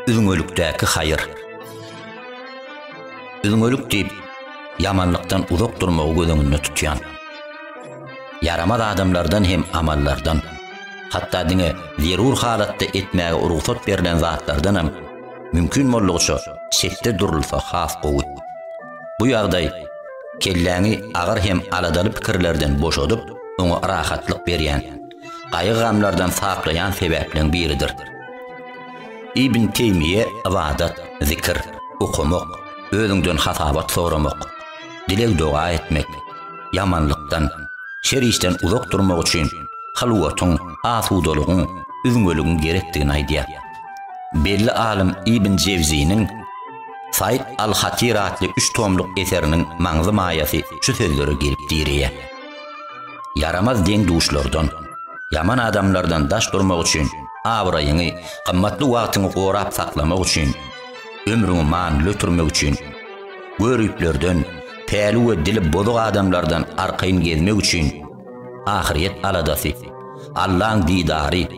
Üzňelikdäki haýyr. Üzňelik diýip, ýamanlykdan uzak durmagy göz öňünde tutýan. Ýaramaz adamlardan hem amallardan, hatda diňe zerur halatda etmäge rugsat berlen zatlardan hem mümkin boldugyça çetde durulsa has gowy. Bu ýagdaý kelläňi agyr hem aladaly pikirlerden boşadyp, oňa rahatlyk berýän, gaýgy-gamlardan saplaýan sebäpleň biridir. Ibn Teýmiýe ybadat, zikr, okamak, özüňden hasabat soramak, dileg-doga etmek, ýamanlykdan, şer işden uzak durmak üçin hylwatyň, asudalygyň, üzňeligiň gerekdigini aýdýar. Belli alym Ibn Jewziniň. Said al-Hatyr atly üç tomluk eseriniň maňzy-maýasy şu sözlere gelip direýär. Ýaramaz deň-duşlardan, ýaman adamlardan daş durmak üçin, abraýyňy, gymmatly wagtyňy gorap saklamak üçin, ömrüňi manyly ötürmek üçin, göriplerden, päli we dili bozuk adamlardan arkaýyn gezmek üçin, Ahyryýet aladasy, Allaň didary,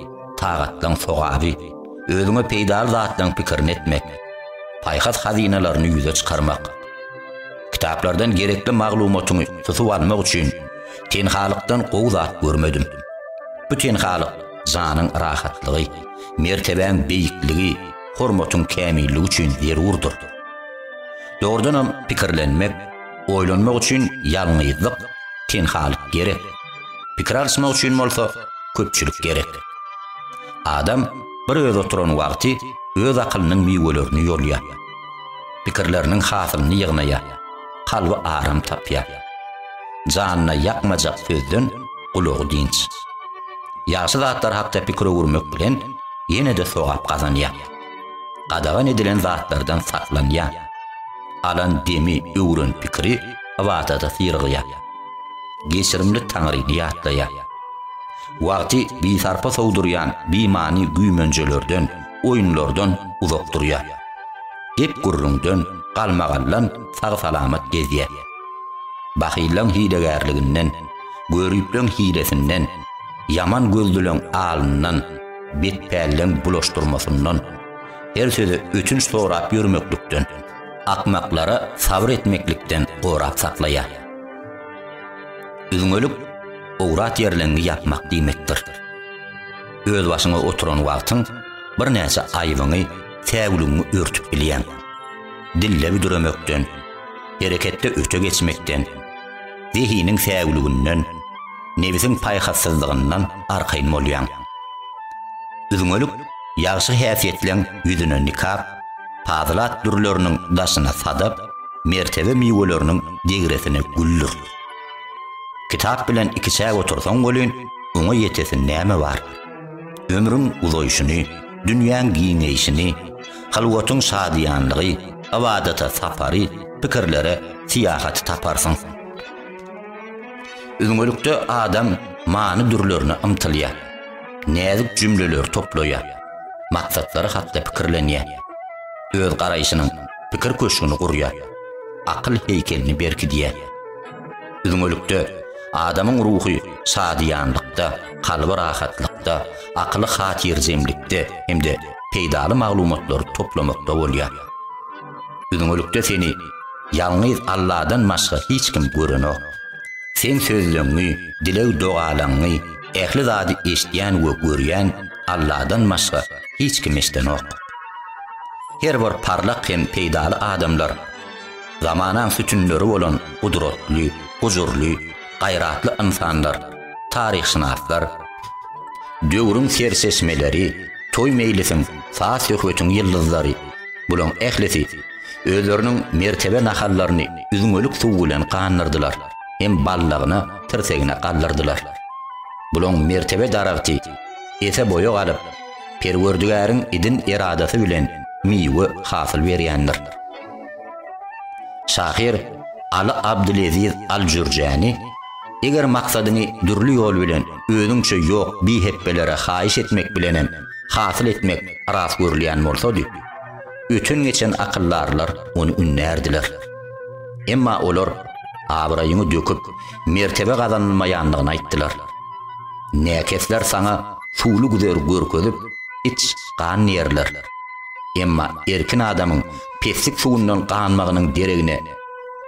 tagatlaň sogaby, özüňe peýdaly zatlaň pikirini etmek, paýhas hazynalaryny ýüze çykarmak. Kitaplardan gerekli maglumatyňy tutup almak üçin tenhalykdan gowy zat görmedim. Bu tenhalyk janyň rahatlygy, mertebäň beýikligi, hormatyň kämilligi üçin zerurdyr. Dogrudanam pikirlenmek, Oýlanmak üçin ýalňyzlyk, tenhalyk gerek. Pikir alyşmak üçin bolsa köpçülik gerek. Adam bir özi oturan wagty öz akylynyň miwelerini ýolýar. Pikirleriniň hasylyny ýygnaýar. Kalby aram tapýar. Janyna ýakmajak sözden gulagy dynç. Ýagşy zatlar hakda pikir öwürmek bilen ýene-de sogap gazanýar. Gadagan edilen zatlardan saklanýar. Alan demi öwren pikiri ybadata syrygýar. Geçirimli Taňryny ýatlaýar. Wagty bisarpa sowdurýan bimany güýmenjelerden, oýunlardan uzak durýar. Gep-gürrüňden, galmagaldan sag-salamat gezýär. Bahyllaň hilegärliginden, göripleň hilesinden, ýaman gözlüleň alyndan, betpälleň bulaşdyrmasyndan, Her söze ötünç sorap ýörmeklikden, akmaklara sabyr etmeklikden gorap saklaýar. Üzňelik owrat ýerleňňi ýapmak diýmekdir. Özbaşyňa oturan wagtyň birnäçe aýybyňy, säwligiňi örtüp bilýäň. Dille büdremekden, hereketde öte geçmekden, zehiniň säwliginden, nebsiň paýhassyzlygyndan arkaýyn bolýaň. Üzňelik ýagşy häsiýetleň ýüzüne nikap, pazylat dürleriniň daşyna sadap, mertebe miweleriniň degresine güldür. Kitap bilen ikiçäk otursaň welin, oňa ýetesi näme bar? Ömrüň uzaýşyny, dünýäň giňeýşini, Halwatyň şadyýanlygy, ybadata sapary, pikirlere syýahaty taparsyň. Üzňelikde adam many dürlerine ymtylýar. Näzik jümleleri toplaýar. Maksatlary hakda pikirlenýär. Öz garaýşynyň pikir köşgüni gurýar. Akyl heýkelini berkidýär. Üzňelikde, adamyň ruhy şadyýanlykda, kalby rahatlykda, akyly hatyrjemlikde hem-de peýdaly maglumatlary toplamakda bolýar. Üzňelikde seni ýalňyz Alladan başga hiç kim görenok. Seň sözleňňi, dileg-dogalaňňy, ähli zady eşidýän we görýän Alladan başga hiç kim eşdenok. Her bir parlak hem peýdaly adamlar, zamanaň sütünleri bolan gudratly, gujurly, gaýratly ynsanlar, taryhşynaslar, döwrüň serçeşmeleri, toý-meýlisiň, saz-söhbetiň ýyldyzlary, bulaň ählisi özleriniň mertebe nahallaryny üzňelik suw bilen gandyrdylar hem ballagyna, tirsegine galdyrdylar. Bulaň mertebe daragty ese boýa galyp, Perwerdigäriň idin eradasy bilen miwe hasyl berýändir. Şahyr Aly Abdyleziz Aljürjäni Eger maksadyňy dürli ýol bilen özüňçe ýok bihepbelere haýyş etmek bilenem hasyl etmek ras görülýän bolsady, öten-geçen akyldarlar ony ündärdiler. Emma olar abraýyňy döküp, mertebe gazanylmaýandygyny aýtdylar. Näkesler saňa suwly güzer görkezip, iç gan diýerler. Emma erkin adamyň peslik suwundan ganmagynyň deregine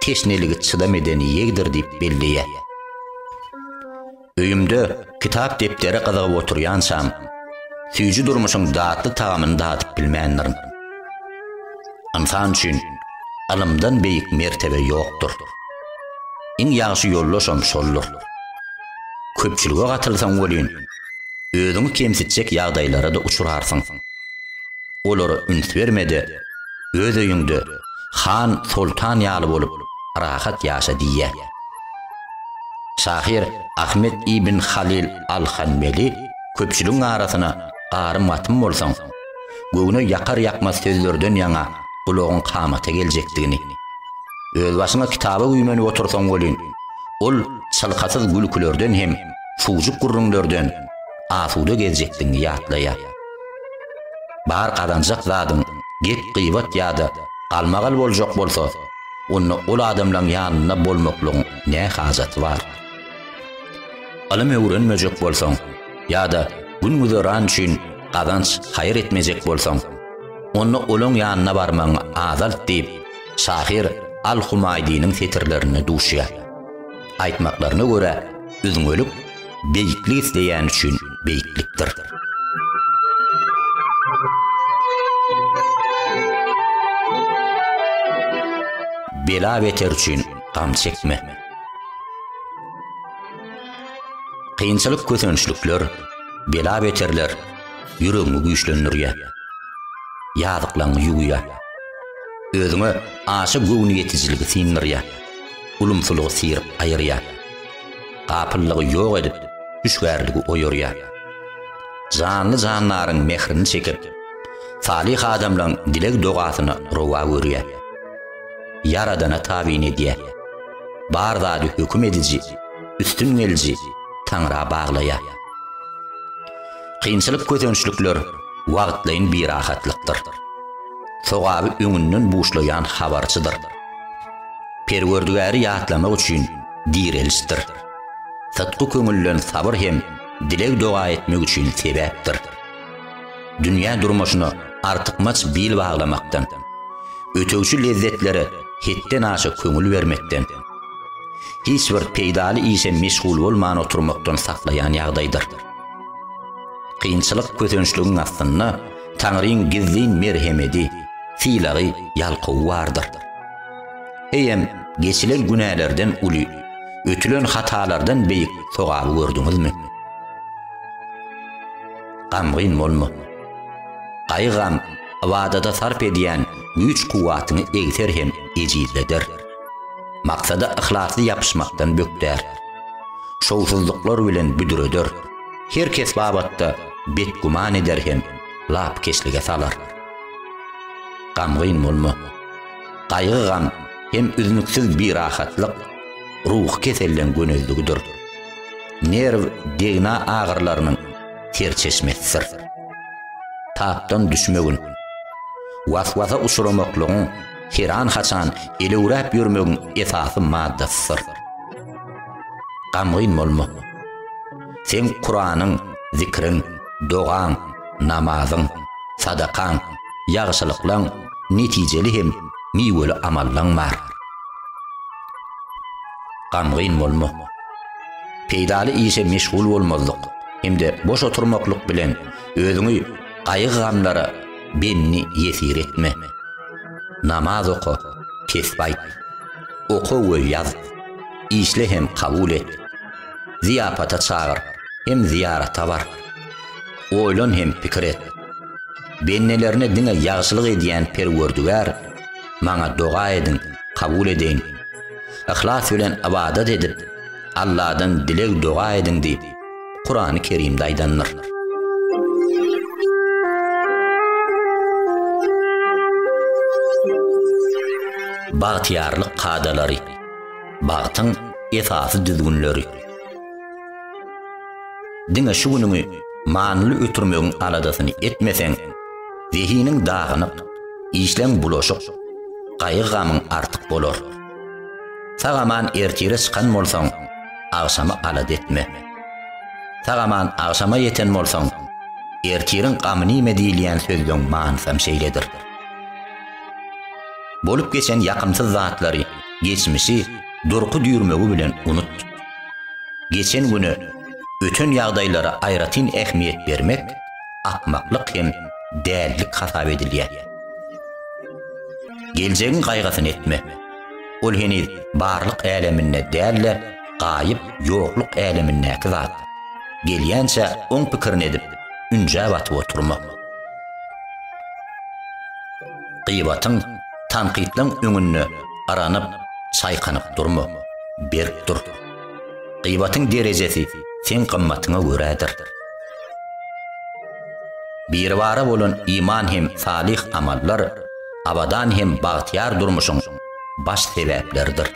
teşneligi çydam edeni ýegdir diýip belleýär. Öýümde kitap-depdere gyzygyp oturýançam, süýji durmuşyň datly tagamyny dadyp bilmändirin. Ynsan üçin ylymdan beýik mertebe ýokdur. Iň ýagşy ýoldaşam şoldur. Köpçülige gatylsaň welin, Özüňi kemsitjek ýagdaýlara-da uçrarsyň. Olara üns berme-de, öz öýüňde han, soltan ýaly bolup, rahat ýaşa diýýär. Şahyr Ahmet ibn Halyl al-Hanbeli köpçüligiň arasyna garym-gatym bolsaň, göwne ýakar-ýakmaz sözlerden ýaňa gulagyň kamata geljekdigini, özbaşyňa kitaba güýmenip otursaň welin, ol çylkasyz gülkülerden hem çuwjuk gürrüňlerden asuda gezjekdigiňi ýatlaýar. Bar gazanjak zadyň gep-gybat ýa-da galmagal boljak bolsa, onda ol adamlaň ýanynda bolmaklygyň nä hajaty bar? Ylym öwrenmejek bolsaň ýa-da gün-güzeran üçin gazanç haýyr etmejek bolsaň, onda olaň ýanyna barmagyňy azalt diýip, şahyr Al-Humaýdiniň setirlerinde duşýar. Aýtmaklaryna görä, üzňelik beýiklik isleýän üçin beýiklikdir. Bela beter üçin gam çekme. Kynçylyk kösençlikler, bela beterler ýüregiňi güýçlendirýär. Ýazyklaňy ýuwýar. Özüňe aşa göwni ýetijiligi synyrýar. ulumsylygy syryp aýyrýar. Gapyllygy ýok edip, hüşgärligi oýarýar. Janly-jandaryň mährini çekip, salyh adamlaryň dileg-dogasyny rowa görýär. Ýaradana tabyn edýär. Bar zady höküm ediji, üstün geliji Taňra baglaýar. Kynçylyk-kösençlikler wagtlaýyn birahatlykdyr. Sogaby öňünden buşlaýan habarçydyr. Perwerdigäri ýatlamak üçin direlişdir. Sytgy köňülden sabyr hem dileg-doga etmek üçin sebäpdir. Dünýä durmuşyna artykmaç bil baglamakdan, ötegçi lezzetlere hetdenaşa köňül bermekden, hiç bir peýdaly işe meşgul bolman oturmakdan saklaýan ýagdaýdyr. Kynçylyk kösençligiň astynda Taňryň gizlin merhemedi, sylagy, ýalkawy bardyr. Eýem, geçilen günälerden uly, ötülen hatalardan beýik sogaby gördüňizmi? Gamgyn bolma. Gaýygam ybadada sarp edýän güýç-kuwwatyňy egser hem ejizleder. Maksada yhlasly ýapyşmakdan bökdär. Şowsuzlyklar bilen büdreder. Her kes babatda betgüman eder hem lapykeçlige salar. Gamgyn bolma. Gaýgy-gam hem üznüksiz birahatlyk, ruhy keselleň gönezligidir. Nerw degna agyrylarynyň serçeşmesidir. Tapdan düşmegiň, was-wasa uçramaklygyň, heran-haçan elewräp ýörmegiň esasy maddasydyr. Gamgyn bolma. Seň Kuranyň, zikriň, dogaň, namazyň, sadakaň, ýagşylyklaň, netijeli hem miweli amallaň bar. Gamgyn bolma. Peýdaly işe meşgul bolmazlyk hem-de boş oturmaklyk bilen özüňi gaýgy-gamlara bendi ýesir etme. Namaz oka, tesbi aýt. Oka we ýaz. Işle hem kabul et. Zyýapata çagyr hem zyýarata bar. Oýlan hem pikir et. Bendelerine diňe ýagşylyk edýän Perwerdigär, maňa doga ediň, kabul edeýin. Yhlas bilen ybadat edip, Alladan dileg-doga ediň diýip, Kurany Kerimde aýdandyr. Bagtyýarlyk kadalary. Bagtyň esasy düzgünleri. Diňe şu günüňi manyly ötürmegiň aladasyny etmeseň, zehiniň dagynyk, işleň bulaşyk, gaýgy-gamyň artyk bolar. Sag-aman ertire çykan bolsaň, agşamy alada etme. Sag-aman agşama ýeten bolsaň, ertiriň gamy nime diýilýän sözleň manysam şeýledir. Bolup geçen ýakymsyz zatlary, geçmişi durky-düýrmegi bilen unut. Geçen güne, öten ýagdaýlara aýratyn ähmiýet bermek akmaklyk hem dällik hasap edilýär. Geljegiň gaýgysyny etme. Ol heniz barlyk äleminde däl-de, gaýyp, ýokluk älemindäki zat. Gelýänçä oň pikirini edip, ünjä batyp oturma. Gyýbatyň, tankytlaň öňünde yranyp, çaýkanyp durma, berk dur. Gyýbatyň derejesi seň gymmatyňa görädir. Biribara bolan iman hem salyh amallar abadan hem bagtyýar durmuşyň baş sebäpleridir.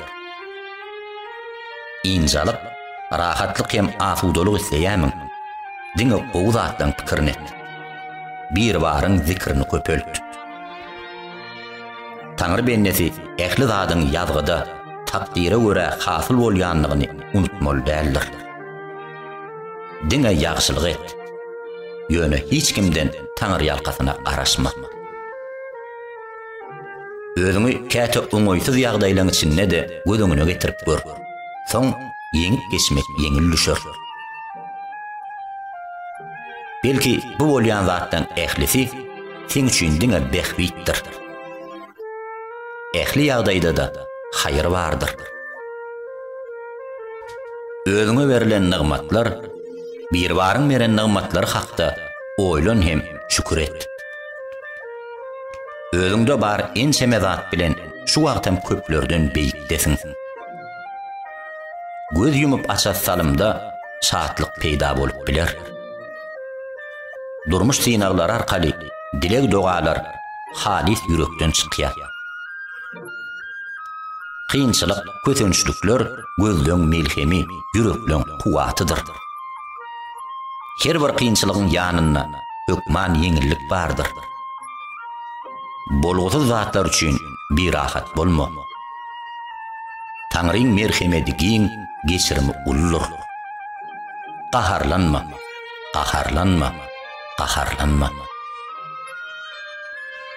Ynjalyk, rahatlyk hem asudalyk isleýämiň? Diňe gowy zatlaryň pikirini et. Biribaryň zikrini köpelt. Taňry bendesi ähli zadyň ýazgyda, takdyra görä hasyl bolýandygyny unutmaly däldir. Diňe ýagşylyk et. Ýöne hiç kimden taňryýalkasyna garaşma. Özüňi käte oňaýsyz ýagdaýlaryň içinde-de göz öňüne getirip gör. Soň ýeňip geçmek ýeňil düşer. Belki bu bolýan zatlaň ählisi seň üçin diňe bähbitdir. Ähli ýagdaýda-da haýyr bardyr. Özüňe berlen nygmatlar, Biribaryň beren nygmatlary hakda oýlan hem şükür et. Özüňde bar ençeme zat bilen şu wagtam köplerden beýikdesiň. Göz ýumup aças salymda şatlyk peýda bolup biler. Durmuş synaglary arkaly dileg-dogalar halys ýürekden çykýar. Kynçylyk, kösençlikler gözleň melhemi, ýürekleň kuwwatydyr. Her bir kynçylygyň ýanynda hökman ýeňillik bardyr. Bolgusyz zatlar üçin birahat bolma. Taňryň merhemedi giň, geçirimi uludyr. Gaharlanma, gaharlanma, gaharlanma.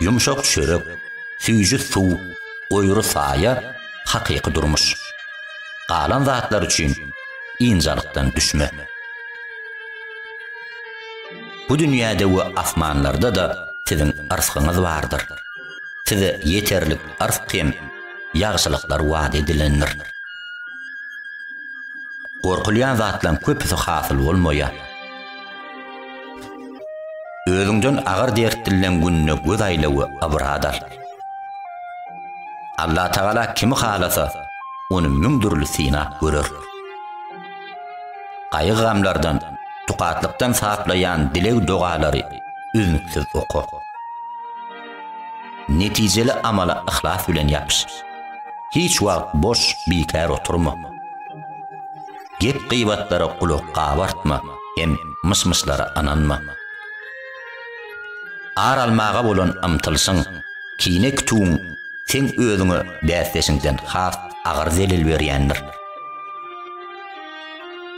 Ýumşak çörek, süýji suw, goýry saýa, hakyky durmuş. Galan zatlar üçin ynjalykdan düşme. Bu dünýäde we asmanlarda-da siziň yrsgyňyz bardyr. size ýeterlik yrsg hem ýagşylyklar wada edilendir. Gorkulýan zatlaryň köpüsi hasyl bolmaýar. Özüňden agyr dert dillen gününe göz aýla we ybrat al. Allatagala kimi halasa, ony müň dürli synap görer. Gaýgy-gamlardan, tukatlykdan saplaýan dileg-dogalary üznüksiz oka. Netijeli amala yhlas bilen ýapyş. Hiç wagt boş, bikär oturma. Gep-gybatlara gulak gabartma hem myş-myşlara ynanma. Ar almaga bolan ymtylşyň, kine-kütügiň seň özüňe bäsdeşiňden has agyr zelel berýändir.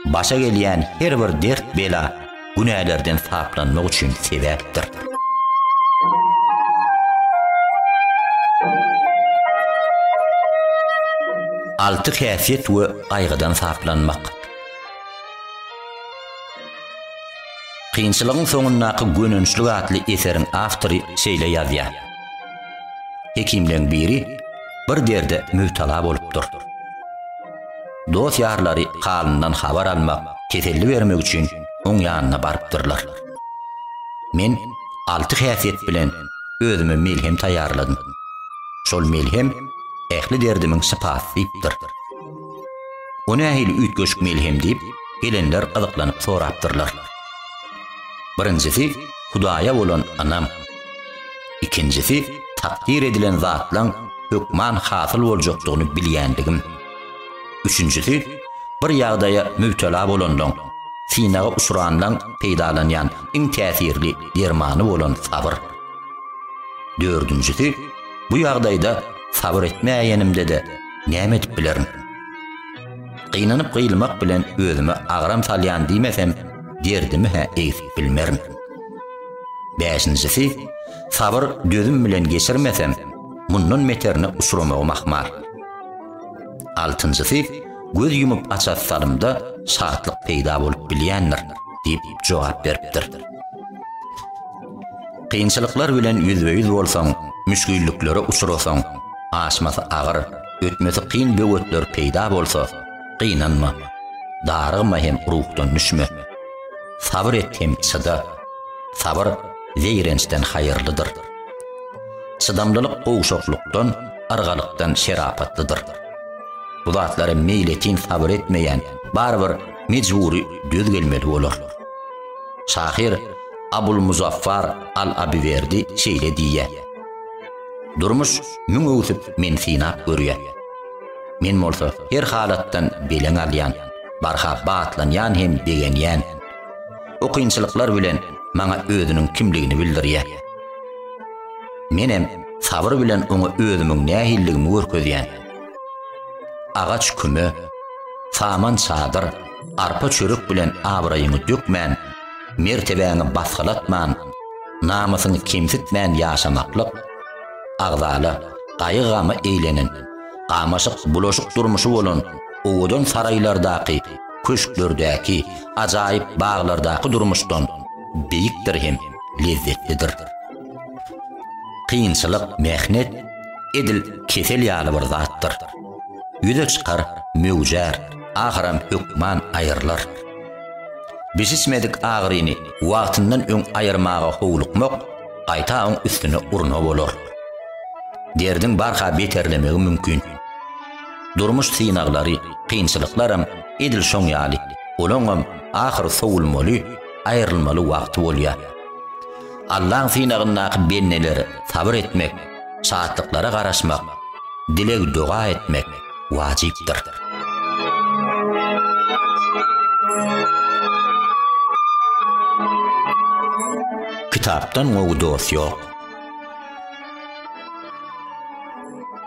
Başa gelýän her bir dert-bela günälerden saplanmak üçin sebäpdir. Alty häsiýet we gaýgydan saplanmak. Kynçylygyň soňundaky gönençlik atly eseriň awtory şeýle ýazýar. Hekimleň biri bir derde mübtala bolupdyr. Dost-ýarlary halyndan habar almak, teselli bermek üçin oň ýanyna barypdyrlar. Men alty häsiýet bilen özüme melhem taýýarladym. Şol melhem ähli derdimiň şypasy diýipdir. O nähili üýtgeşik melhem diýip, gelenler gyzyklanyp sorapdyrlar. Birinjisi Hudaýa bolan ynam. Ikinjisi, takdyr edilen zatlaň hökman hasyl boljakdygyny bilýändigim. Üçünjisi, bir ýagdaýa mübtela bolanlaň, synaga uçranlaň peýdalanýan iň täsirli dermany bolan sabyr. Dördünjisi, bu ýagdaýda sabyr etmäýenimde-de näme edip bilerin? Gynanyp-gyýylmak bilen özüme agram salýan diýmesem, derdimi-hä egsip bilmerin. Bäşinjisi, Sabyr dözüm bilen geçirmeseň, mundan beterine uçramagyň ahmal. Altynjysy, Göz ýumup aças salymda şatlyk peýda bolup bilýändir diýip jogap beripdir. Kynçylyklar bilen ýüzbe-ýüz bolsaň, müşgilliklere uçrasaň, aşmasy agyr, ötmesi kyn böwetler peýda bolsa, gynanma, darygma hem ruhdan düşme. Sabyr et hem çyda. Sabyr zeýrençden haýyrlydyr. Çydamlylyk gowşaklykdan, yrgalykdan şerapatlydyr. Bu zatlara meýletin sabyr etmeýän barybir mejbury döz gelmeli bolar. Şahyr Abulmuzaffar al-Abiwerdi şeýle diýýär, Durmuş müň öwsüp men synap görýär. Men bolsa her halatdan beleň alýan. barha batlanýan hem begenýän. Bu kynçylyklar bilen maňa özüniň kimligini bildirýär. Menem sabyr bilen oňa özümiň nähilligimi görkezýän. Agaç küme, saman çadyr, arpa çörek bilen abraýyňy dökmän, mertebäňi basgylatman, namysyňy kemsitmän ýaşamaklyk, agzala, gaýgy-gama eýlenen, gamaşyk-bulaşyk durmuşy bolan owadan saraýlardaky, köşklerdäki, ajaýyp baglardaky durmuşdan beýikdir hem lezzetlidir. Kynçylyk, mähnet edil kesel ýaly bir zatdyr. Ýüze çykar, möwjär, ahyram hökman aýrylar. Bişişmedik agyryny wagtyndan öň aýyrmaga howlukmak gaýta oň üstüne urna bolar. Derdiň barha beterlemegi mümkin. Durmuş synaglary, kynçylyklaram edil şoň ýaly, olaňam ahyry sowulmaly, aýrylmaly wagty bolýar. Allaň synagyndaky bendeler sabyr etmek, şatlyklara garaşmak, dileg-doga etmek wajypdyr. Kitapdan gowy dost ýok.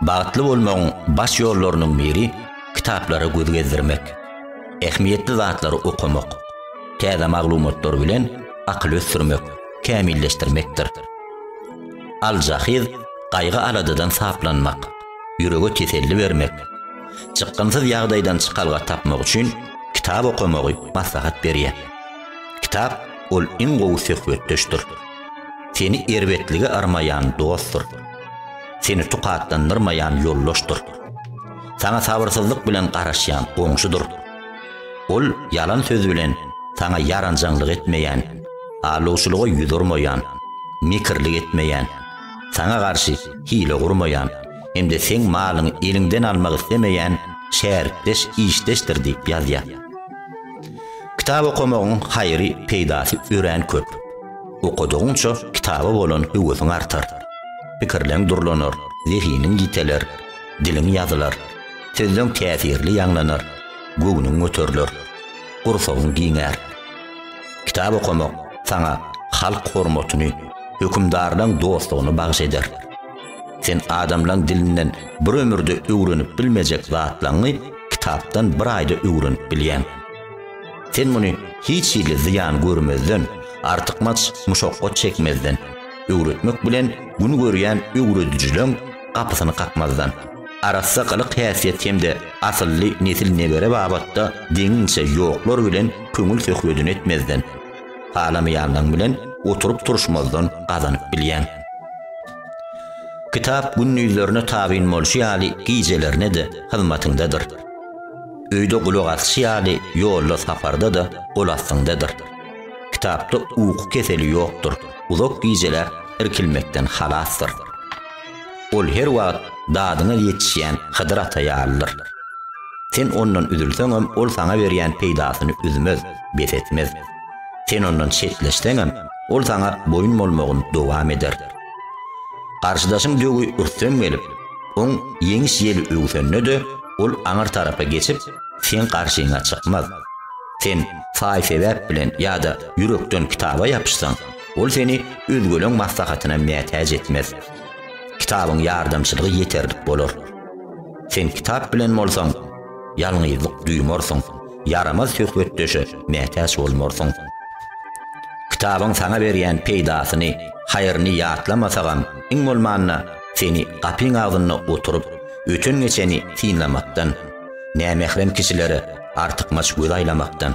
Bagtly bolmagyň baş ýollarynyň biri kitaplara göz gezdirmek, ähmiýetli zatlary okamak, täze maglumatlar bilen akyl ösdürmek, kämilleşdirmekdir. Aljahyd gaýgy-aladadan saplanmak, ýürege teselli bermek, çykgynsyz ýagdaýdan çykalga tapmak üçin kitap okamagy maslahat berýär. Kitap ol iň gowy söhbetdeşdir. Seni erbetlige yrmaýan dostdur. Seni tukatlandyrmaýan ýoldaşdyr. Saňa sabyrsyzlyk bilen garaşýan goňşudyr. Ol ýalan söz bilen saňa ýaranjaňlyk etmeýän, aldawçylyga ýüz urmaýan, mekirlik etmeýän, saňa garşy hile gurmaýan hem-de seň malyňy eliňden almak islemeýän şärikdeş-işdeşdir diýip ýazýar. Kitap okamagyň haýry, peýdasy örän köp. Okadygyňça kitaba bolan höwesiň artar. Pikirleň durlanar, zehiniň ýiteler, diliň ýazylar, sözleň täsirli ýaňlanar, göwnüň göteriler, gursagyň giňär. Kitap okamak saňa halk hormatyny, hökümdarlaň dostlugyny bagyş eder. Sen adamlaň dilinden bir ömürde öwrenip bilmejek zatlaňňy kitapdan bir aýda öwrenip bilýäň. Sen muny hiç hili zyýan görmezden, artykmaç muşakgat çekmezden, öwretmek bilen gün görýän öwredijileň gapysyny kakmazdan, arassa gylyk-häsiýet hem-de asylly nesil-nebere babatda deňiňçe ýoklar bilen köňül söhbedini etmezden, halamaýanlaň bilen oturyp-turuşmazdan gazanyp bilýäň. Kitap gündizlerine tabyn bolşy ýaly gijelerine-de hyzmatyňdadyr. Öýde gulak asşy ýaly ýolda saparda-da gol astyňdadyr. Kitapda uky keseli ýokdur, uzak gijeläp irkilmekden halasdyr. Ol her wagt dadyňa ýetişýän Hydyr ata ýalydyr. Sen ondan üzülseňem ol saňa berýän peýdasyny üzmez, bes etmez. Sen ondan çetleşseňem, ol saňa boýun bolmagyny dowam eder. Garşydaşyň döwi ürsem gelip, oň ýeňiş ýeli öwsende-de, ol aňyr tarapa geçip, seň garşyňa çykmaz. Sen saý-sebäp bilen ýa-da ýürekden kitaba ýapyşsaň, ol seni özgeleň maslahatyna mätäç etmez. Kitabyň ýardamçylygy ýeterlik bolar. Sen kitap bilen bolsaň, ýalňyzlyk duýmarsyň, ýaramaz söhbetdeşe mätäç bolmarsyň. Kitabyň saňa berýän peýdasyny, haýryny ýatlamasagam, iň bolmanda, seni gapyň agzynda oturyp, öten-geçeni synlamakdan, nämährem kişilere artykmaç göz aýlamakdan,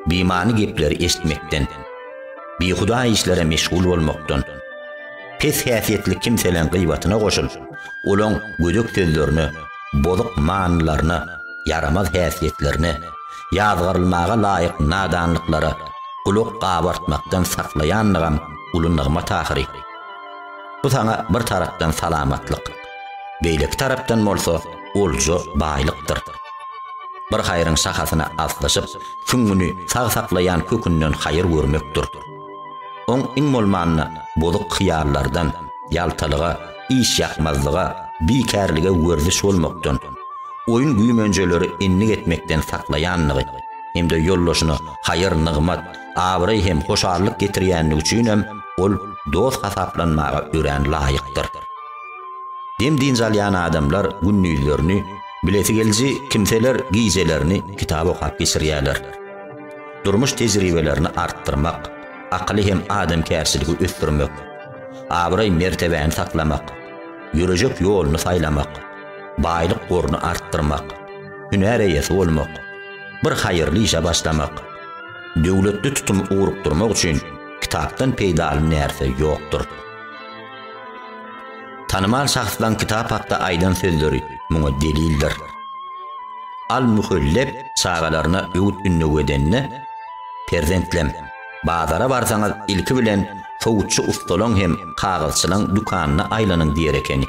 bimany gepleri eşitmekden, bihuda işlere meşgul bolmakdan, pes häsiýetli kimseleň gyýbatyna goşul, olaň gödek sözlerine, bozuk manylaryna, ýaramaz häsiýetlerine, ýazgarylmaga laýyk nadanlyklara gulak gabartmakdan saklaýanlygam uly nygmat ahyry. Bu saňa bir tarapdan salamatlyk, beýleki tarapdan bolsa olja baýlykdyr. Bir haýryň şahasyna aslyşyp, süňňüni sag saklaýan kökünden haýyr görmekdir. Oň iň bolmanda bozuk hyýallardan, ýaltalyga, işýakmazlyga, bikärlige werziş bolmakdan, oýun-güýmenjeleri endik etmekden saklaýandygy hem-de ýoldaşyna haýyr-nygmat, abraý hem hoşallyk getirýändigi üçinem ol dost hasaplanmaga örän laýykdyr. Dem-dynç alýan adamlar gündizlerini, bilesigeliji kimseler gijelerini kitap okap geçirýärler. durmuş tejribelerini artdyrmak, akyly hem adamkärçiligi ösdürmek, abraý-mertebäni saklamak, ýörejek ýoluny saýlamak, baýlyk goruny artdyrmak, hünär eýesi bolmak, bir haýyrly işe başlamak, döwletli tutum ugrukdyrmak üçin kitapdan peýdaly närse ýokdur. Tanymal şahslaň kitap hakda aýdan sözleri muňa delildir. Al-Muhelleb çagalaryna öwüt-ündew edende, Perzentlem, bazara barsaňyz ilki bilen sowutçy ustalaň hem kagyzçylaň dükanyna aýlanyň diýer ekeni.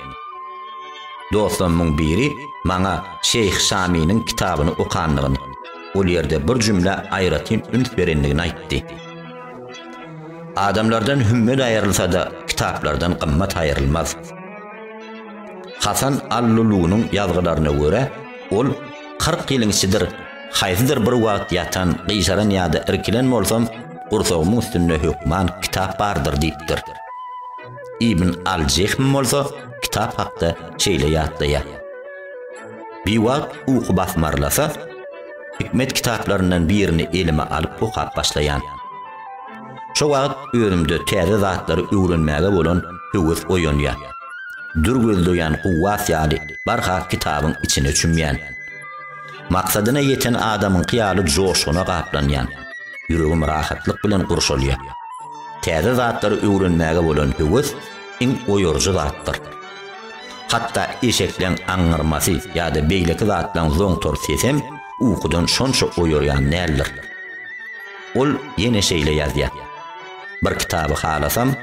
Dostlarymyň biri maňa Şeýh Şaminiň kitabyny okandygyny, ol ýerde bir jümlä aýratyn üns berendigini aýtdy. Adamlardan hümmet aýrylsa-da, kitaplardan gymmat aýrylmaz. Hasan al-Lulunyň ýazgylaryna görä, ol kyrk ýylyň içidir haýsydyr bir wagt ýatan, gyjaran ýa-da irkilen bolsam, gursagymyň üstünde hökman kitap bardyr diýipdir. Ibn al-Jehm bolsa kitap hakda şeýle ýatlaýar, Biwagt uky basmarlasa, Hikmet kitaplaryndan birini elime alyp okap başlaýan. Şo wagt özümde täze zatlary öwrenmäge bolan höwes oýanýa. Dür gözleýän kuwwat ýaly barha kitabyň içine çümýän. Maksadyna ýeten adamyňky ýaly joşguna gaplanýan. Ýüregim rahatlyk bilen gurşalýa. Täze zatlary öwrenmäge bolan höwes iň oýaryjy zatdyr. Hatda eşekleň aňňyrmasy ýa-da beýleki zatlaryň zoňtar sesem ukudan şonça oýarýan däldir. Ol ýene şeýle ýazýar, Bir kitaby halasam,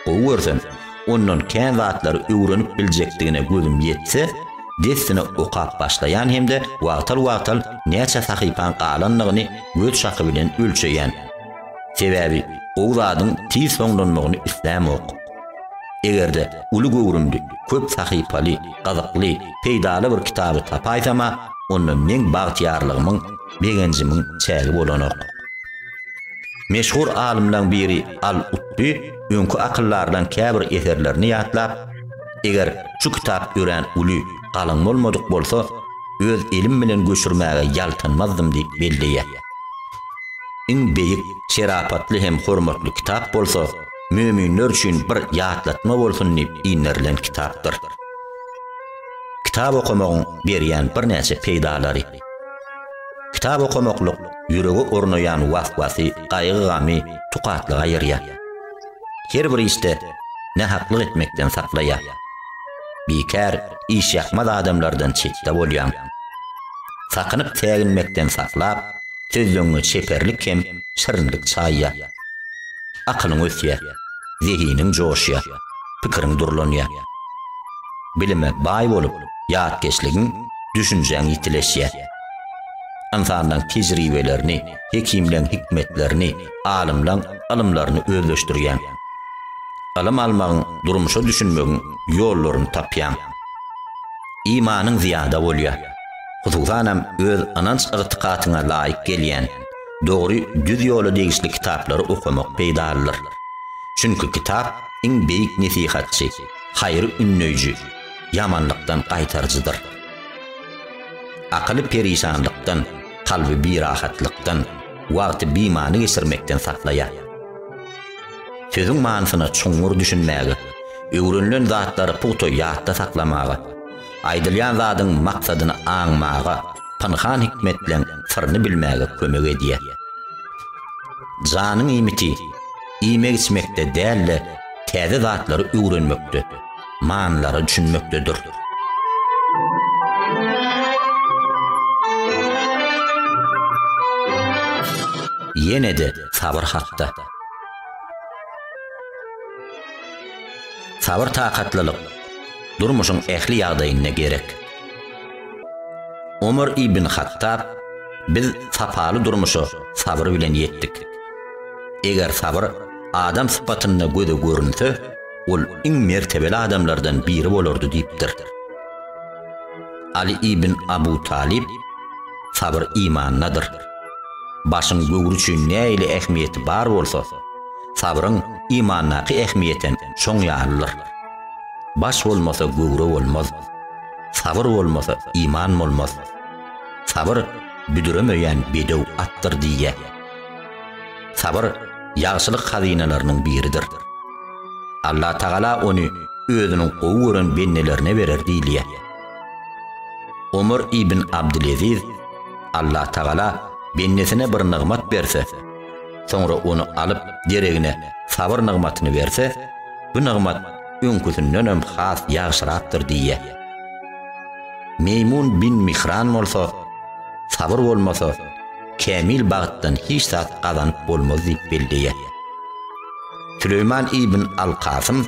gowy görsem, ondan kän zatlary öwrenip biljekdigine gözüm ýetse, dessine okap başlaýan hem-de wagtal-wagtal näçe sahypaň galandygyny göz şahy bilen ölçeýän. Sebäbi gowy zadyň tiz soňlanmagyny islämok. Eger-de uly göwrümli, köp sahypaly, gyzykly, peýdaly bir kitaby tapaýsam-a, onda meň bagtyýarlygymyň, begenjimiň çägi bolanok. Meşhur alymlaň biri Al-Utby öňki akyldarlaň käbir eserlerini ýatlap, Eger şu kitap örän uly, galyň bolmadyk bolsa, öz elim bilen göçürmäge ýaltanmazdym diýip belleýär. Iň beýik, şerapatly hem hormatly kitap bolsa, möminler üçin bir ýatlatma bolsun diýip inderilen kitapdyr. Kitap okamagyň berýän birnäçe peýdalary. Kitap okamaklyk ýürege ornaýan was-wasy, gaýgy-gamy tukatlyga aýyrýar. Her bir işde nähaklyk etmekden saklaýar. Bikär, işýakmaz adamlardan çetde bolýaň. Sakynyp säginmekden saklap, sözleňňe çeperlik hem şirinlik çaýýar. Akylyň ösýär, zehiniň joşýar, pikiriň durlanýar. Bilime baý bolup, ýatkeşligiň, düşünjäň ýitileşýär. Ynsanlaň tejribelerini, hekimleň hikmetlerini, alymlaň ylymlaryny özleşdirýäň. Ylym almagyň, durmuşa düşünmegiň ýollaryny tapýaň. Imanyň zyýada bolýar. Hususanam öz ynanç-ygtykatyňa laýyk gelýän, Dogry düz ýola degişli kitaplary okamak peýdalydyr. Çünki kitap iň beýik nesihatçy, haýry ündeýji, ýamanlykdan gaýtaryjydyr. Akyly perişanlykdan, kalby birahatlykdan, wagty bimany geçirmekden saklaýar. Sözüň manysyna çuňňur düşünmäge, öwrenilen zatlary pugta ýatda saklamaga, Aýdylýan zadyň maksadyny aňmaga, pynhan hikmetleň syryny bilmäge kömek edýär. Janyň iýmiti iýmek-içmekde däl-de, täze zatlary öwrenmekde, manylara düşünmekdedir. Ýene-de sabyr hakda. Sabyr-takatlylyk, durmuşyň ähli ýagdaýynda gerek. Omar ibn Hattab, Biz sapaly durmuşa sabyr bilen ýetdik. Eger sabyr adam sypatynda göze görünse, ol iň mertebeli adamlardan biri bolardy diýipdir. Aly ibn Abu Talyp, Sabyr imandadyr. Başyň böwri üçin nähili ähmiýeti bar bolsa, sabryň imandaky ähmiýetem şoň ýalydyr. Baş bolmasa göwre bolmaz. Sabyr bolmasa iman bolmaz. Sabyr büdüremeýän bedew atdyr diýýär. Sabyr ýagşylyk hazynalarynyň biridir. Allah Tagala ony özüniň gowy gören bendelerine berer diýilýär. Omar ibn Abdyleziz, Allah Tagala bendesine bir nygmat berse, soňra ony alyp deregine sabyr nygmatyny berse, Bu nygmat öňküsindenem has ýagşyrakdyr diýýär. Meýmun bin Mihran bolsa, Sabyr bolmasa, kämil bagtdan hiç zat gazanyp bolmaz diýip belleýär. Süleýman ibn al-Kasym,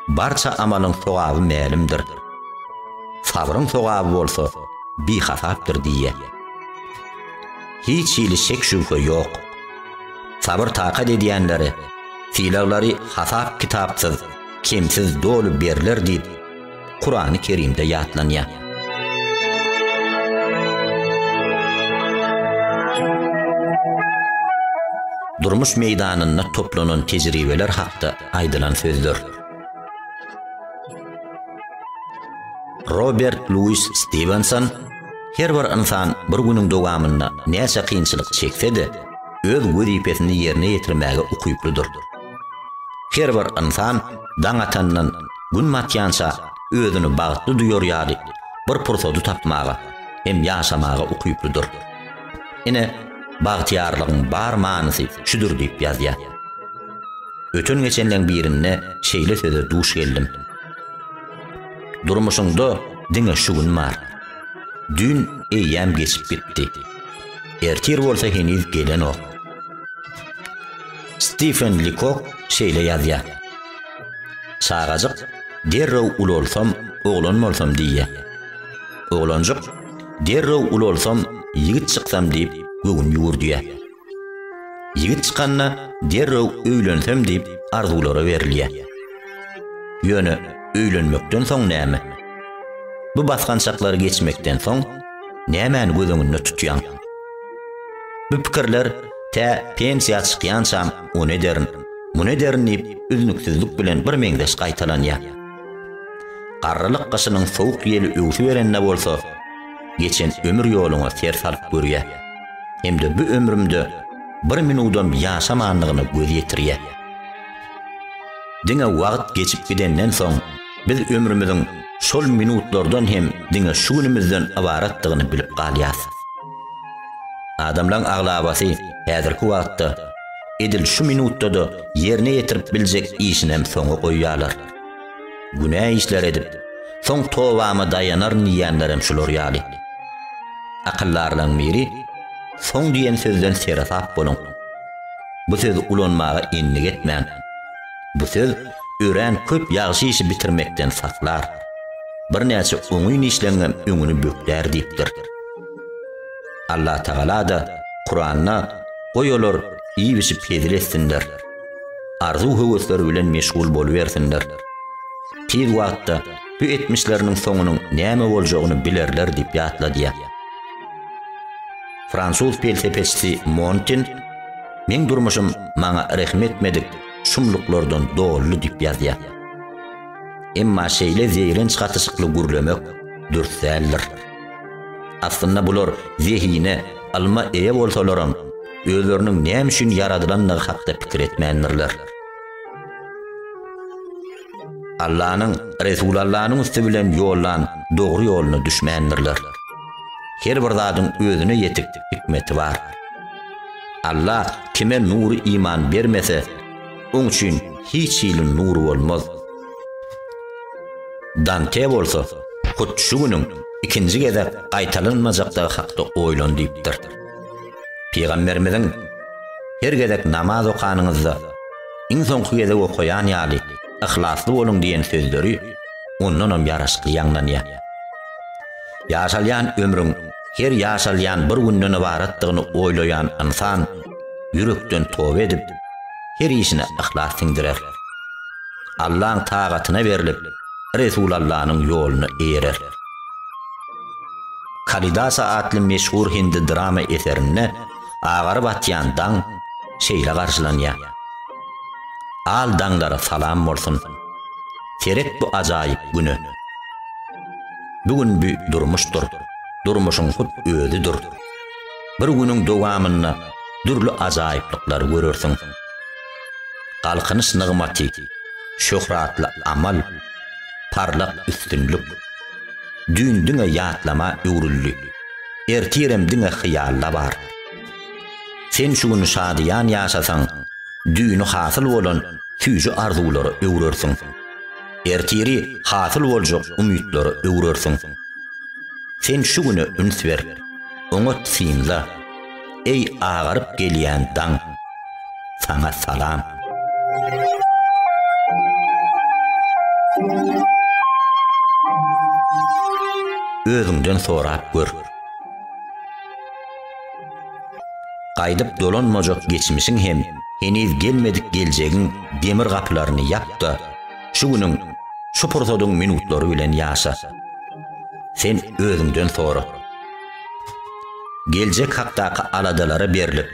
Barça amalyň sogaby mälimdir. Sabryň sogaby bolsa bihasapdyr diýýär. Hiç hili şek-şübhe ýok. Sabyr-takat edýänleri Sylaglary hasap-kitapsyz, kemsiz doly berler diýip, Kurany Kerimde ýatlanýar. Durmuş meýdanynda toplanan tejribeler hakda aýdylan sözler. Robert Louis Stevenson Her bir ynsan bir günüň dowamynda näçe kynçylyk çekse-de, öz wezipesini ýerine ýetirmäge ukyplydyr. Her bir ynsan daň atandan gün batýança özüni bagtly duýar ýaly bir pursady tapmaga hem ýaşamaga ukyplydyr. Ine, bagtyýarlygyň bar manysy şudur diýip ýazýar. Öten-geçenleň birinde şeýle söze duş geldim. Durmuşyňda diňe şu gün bar. Düýn eýýäm geçip gitdi. Ertir bolsa heniz gelenok. Stifen Likok şeýle ýazýar. Çagajyk derrew ulalsam, oglan bolsam diýýär. Oglanjyk derrew ulalsam, ýigit çyksam diýip göwün ýüwürdýär. Ýigit çykanda derrew öýlensem diýip arzuwlara berilýär. Ýöne öýlenmekden soň näme? Bu basgançaklary geçmekden soň nämäni göz öňünde tutýaň? Bu pikirler tä pensiýa çykýançam ony ederin, muny ederin diýip üznüksizlik bilen birmeňzeş gaýtalanýar. Garrylyk gyşynyň sowuk ýeli öwsüberende bolsa, geçen ömür ýoluňa ser salyp görýär. hem-de bu ömrümde bir minudam ýaşamandygyna göz ýetirýär. Diňe wagt geçip gidenden soň, biz ömrümiziň şol minutlardan hem diňe şu günümizden ybaratdygyny bilip galýarys. Adamlaryň aglabasy häzirki wagtda edil şu minutda-da ýerine ýetirip biljek işinem soňa goýýarlar. Günä işler edip, soň tobama daýanaryn diýýänlerem şular ýaly. Akyldarlaň biri, Soň diýen sözden seresap boluň. Bu sözi ulanmaga endik etmäň. Bu söz örän köp ýagşy işi bitirmekden saklar. Birnäçe oňyn işleňňem öňüni böklär diýipdir. Allatagala-da Kuranda, Goý olar iýip-içip hezil etsinler. arzuw-höwesleri bilen meşgul bolubersinler. Tiz wagtda bu etmişleriniň soňunyň näme boljagyny bilerler diýip ýatladýar. Fransuz pelsepeçisi Montin Meň durmuşym maňa rehim etmedik şumluklardan doly diýip ýazýar. Emma şeýle zeýrenç gatyşykly gürlemek dürs däldir. Aslynda bular zehine, ylma eýe bolsalaram, özleriniň näme üçin ýaradylandygy hakda pikir etmändirler. Allanyň, Resulallanyň üsti bilen ýollan dogry ýoluna düşmändirler. Her bir zadyň özüne ýetik hikmeti bar. Allah kime nury iman bermese, oň üçin hiç hili nur bolmaz. Dante bolsa, hut şu günüň ikinji gezek gaýtalanmajakdygy hakda oýlan diýipdir. Pygamberimiziň, Her gezek namaz okanyňyzda, iň soňky gezek okaýan ýaly, yhlasly boluň diýen sözleri ondanam ýaraşykly ýaňlanýar. Ýaşalýan ömrüň her ýaşalýan bir günden ybaratdygyny oýlaýan ynsan ýürekden toba edip, her işine yhlas siňdirer. Allaň tagatyna berlip, Resulallanyň ýoluna eýerer. Kalidasa atly meşhur hindi drama eserinde agaryp atýan daň şeýle garşylanýar, Al daňlara salam bolsun, seret bu ajaýyp güne. Bu gün bü durmuşdyr, durmuşyň hut özüdir. Bir günüň dowamynda dürli ajaýyplyklary görersiň. Galkynyş nygmaty, şöhratly amal, parlak üstünlik. Düýn diňe ýatlama öwrüldi. Ertirem diňe hyýalda bar. Sen şu gün şadyýan ýaşasaň, düýni hasyl bolan süýji arzuwlara öwrersiň. Ertiri hasyl boljak umytlara öwrersiň. Sen şu güne üns ber, oňat synla. Eý agaryp gelýän daň saňa salam. Özüňden sorap gör. Gaýdyp dolanmajak geçmişiň hem heniz gelmedik geljegiň demir gapylaryny ýap-da, şu günüň, şu pursadyň minutlary bilen ýaşa. Sen özüňden sora. Geljek hakdaky aladalara berlip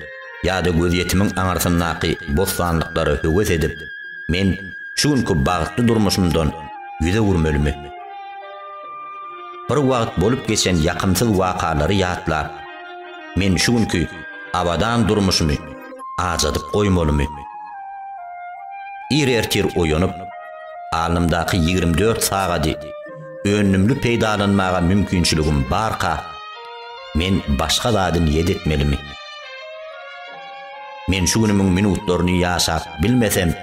ýa-da gözýetimiň aňyrsyndaky bossanlyklara höwes edip, men şu günki bagtly durmuşymdan ýüz öwürmelimi? Bir wagt bolup geçen ýakymsyz wakalary ýatlap, men şu günki abadan durmuşymy ajadyp goýmalymy? Ir ertir oýanyp, alnymdaky ýigrimi dört sagady önümli peýdalanmaga mümkinçiligim barka, men başga zady niýet etmelimi? Men şu günümiň minutlaryny ýaşap bilmesem,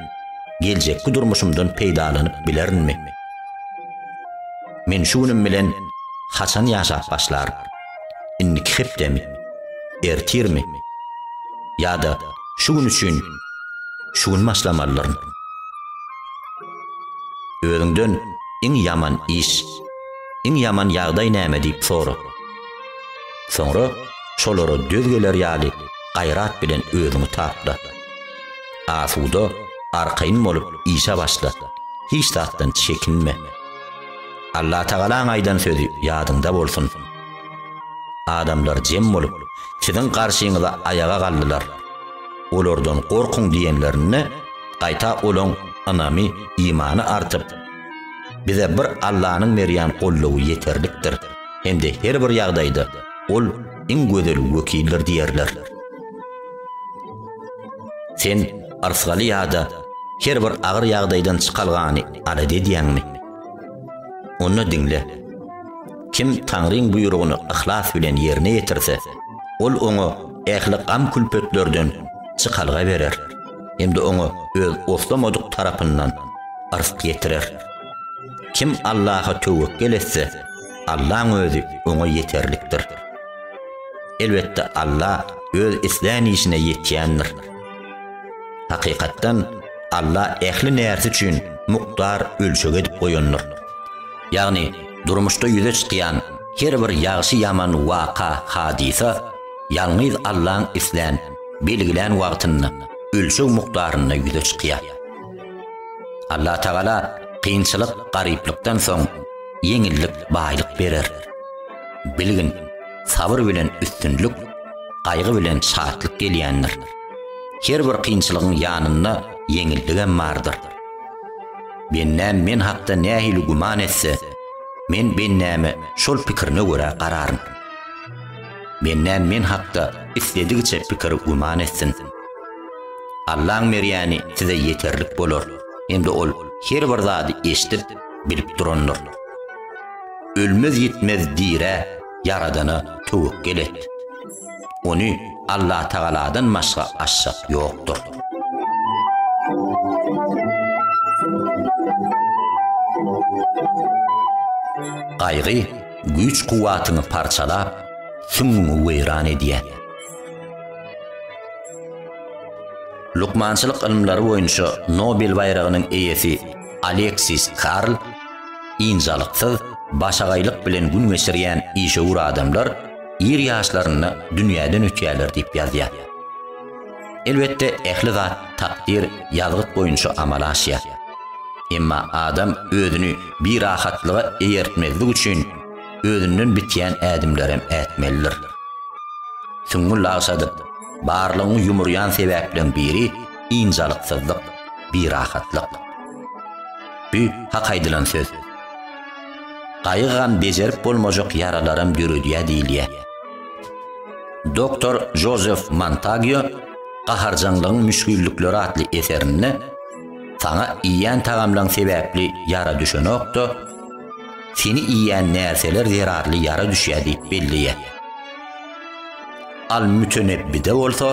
geljekki durmuşymdan peýdalanyp bilerinmi? Men şu günüm bilen haçan ýaşap başlaryn? Indiki hepdemi? Ertirmi? Ýa-da şu gün üçin şu gün başlamalyryn? Özüňden iň ýaman iş, iň ýaman ýagdaý näme diýip sora. Soňra şolara döz geler ýaly gaýrat bilen özüňi tapla. Asuda, arkaýyn bolup işe başla. Hiç zatdan çekinme. Allatagalaň aýdan sözi ýadyňda bolsun. Adamlar jem bolup, siziň garşyňyza aýaga galdylar. Olardan gorkuň diýenlerinde, gaýta olaň ynamy, imany artyp, Bize bir Allanyň berýän goldawy ýeterlikdir hem-de her bir ýagdaýda Ol iň gözel wekildir diýerler. Sen yrsgaly ýa-da her bir agyr ýagdaýdan çykalgany arady edýäňmi? Onda diňle. Kim Taňryň buýrugyny yhlas bilen ýerine ýetirse, Ol oňa ähli gam-külpetlerden çykalga berer hem-de oňa öz oslamadyk tarapyndan yzk ýetirer. Kim Allaha töwekgel etse, Allaň özi oňa ýeterlikdir. Elbetde Alla öz islän işine ýetýändir. Hakykatdan, Alla ähli närse üçin mukdar ölçeg edip goýandyr. Ýagny, durmuşda ýüze çykýan her bir ýagşy-ýaman waka, hadysa, ýalňyz Allaň islän, belgilän wagtynda, ölçeg mukdarynda ýüze çykýar. Allatagala kynçylyk, garyplykdan soň ýeňillik, baýlyk berer. Bilgin, sabyr bilen üstünlik, gaýgy bilen şatlyk gelýändir. Her bir kynçylygyň ýanynda ýeňilligem bardyr. Bendäm men hakda nähili güman etse, men bendäme şol pikirine görä gararyn. Menden men hakda isledigiçe pikir güman etsin. Allaň berýäni size ýeterlik bolar, hem-de ol her bir zady eşidip, bilip durandyr. Ölmez-ýitmez dirä Ýaradana töwekgel et. Ony Allatagaladan başga aşjak ýokdur. Gaýgy Güýç-kuwwatyňy parçalap, süňňüňi weýran edýär. Lukmançylyk ylymlary boýunça Nobel baýragynyň eýesi Aleksis Karl, Ynjalyksyz, başagaýlyk bilen gün geçirýän işewür adamlar ir ýaşlarynda dünýäden ötýärler diýip ýazýar. Elbetde, ähli zat takdyr, ýazgyt boýunça amala aşýar. Emma adam özüni birahatlyga eýertmezlik üçin özünden bitýän ädimlerem ätmelidir. Süňňi lagşadyp, barlygyňy ýumurýan sebäpleriň biri ynjalyksyzlyk, birahatlyk. Bu hak aýdylan söz. Gaýygam bejerip bolmajak ýaralaram döredýär diýilýär. Doktor Jozef Montagio Gaharjaňlygyň müşgillikleri atly eserinde Saňa iýýän tagamlaň sebäpli ýara düşenokda, seni iýýän närseler zerarly ýara düşýär diýip belleýär. Al-Mütenebbide bolsa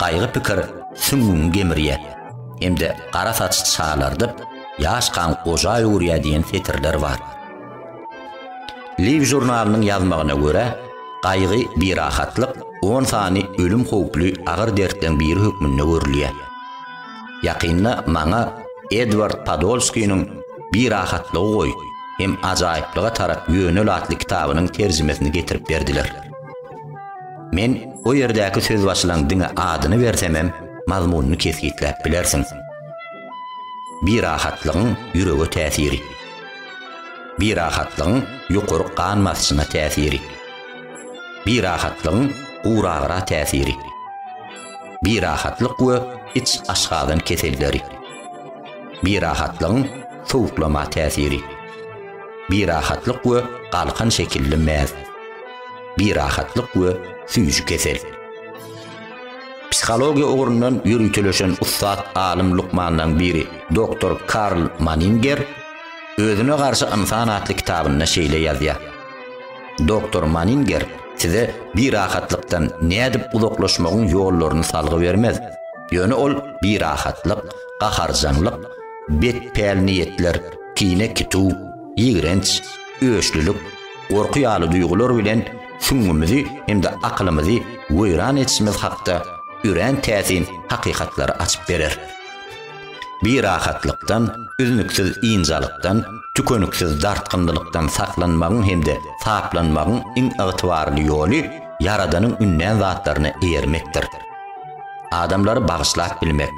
gaýgy pikir süňňüňi gemirýär hem-de gara saç çalardyp, ýaş kan goja öwürýär diýen setirler bar. Live žurnalynyň ýazmagyna görä, gaýgy, birahatlyk, on sany ölüm howply agyr dertleň biri hökmünde görülýär. Ýakynda maňa Edward Podolskiniň Birahatlygy goý hem ajaýyplyga tarap ýönel atly kitabynyň terjimesini getirip berdiler. Men o ýerdäki sözbaşylaň diňe adyny bersemem, mazmunyny kesgitläp bilersiň. Birahatlygyň ýürege täsiri. Birahatlygyň ýokary gan basyşyna täsiri. Birahatlygyň guragyra täsiri. Birahatlyk we iç aşgazan keselleri. Birahatlygyň sowuklama täsiri. Birahatlyk we galkan şekilli mäz. Birahatlyk we süýji kesel. Psihologiýa ugrundan ýöriteleşen ussat alym lukmanlaryň biri doktor Karl Manninger Özüne garşy ynsan atly kitabynda şeýle ýazýar, Doktor Manninger size birahatlykdan nädip uzaklaşmagyň ýollaryny salgy bermez, ýöne ol birahatlyk, gaharjaňlyk, bet pälniýetler, kine-kituw, ýigrenç, öçlülik, gorky ýaly duýgular bilen süňňümizi hem-de akylymyzy weýran edişimiz hakda örän täsin hakykatlary açyp berer. Birahatlykdan, üznüksiz ynjalykdan, tükeniksiz dartgynlylykdan saklanmagyň hem-de saplanmagyň iň ygtybarly ýoly Ýaradanyň ündän zatlaryna eýermekdir. Adamlary bagyşlap bilmek,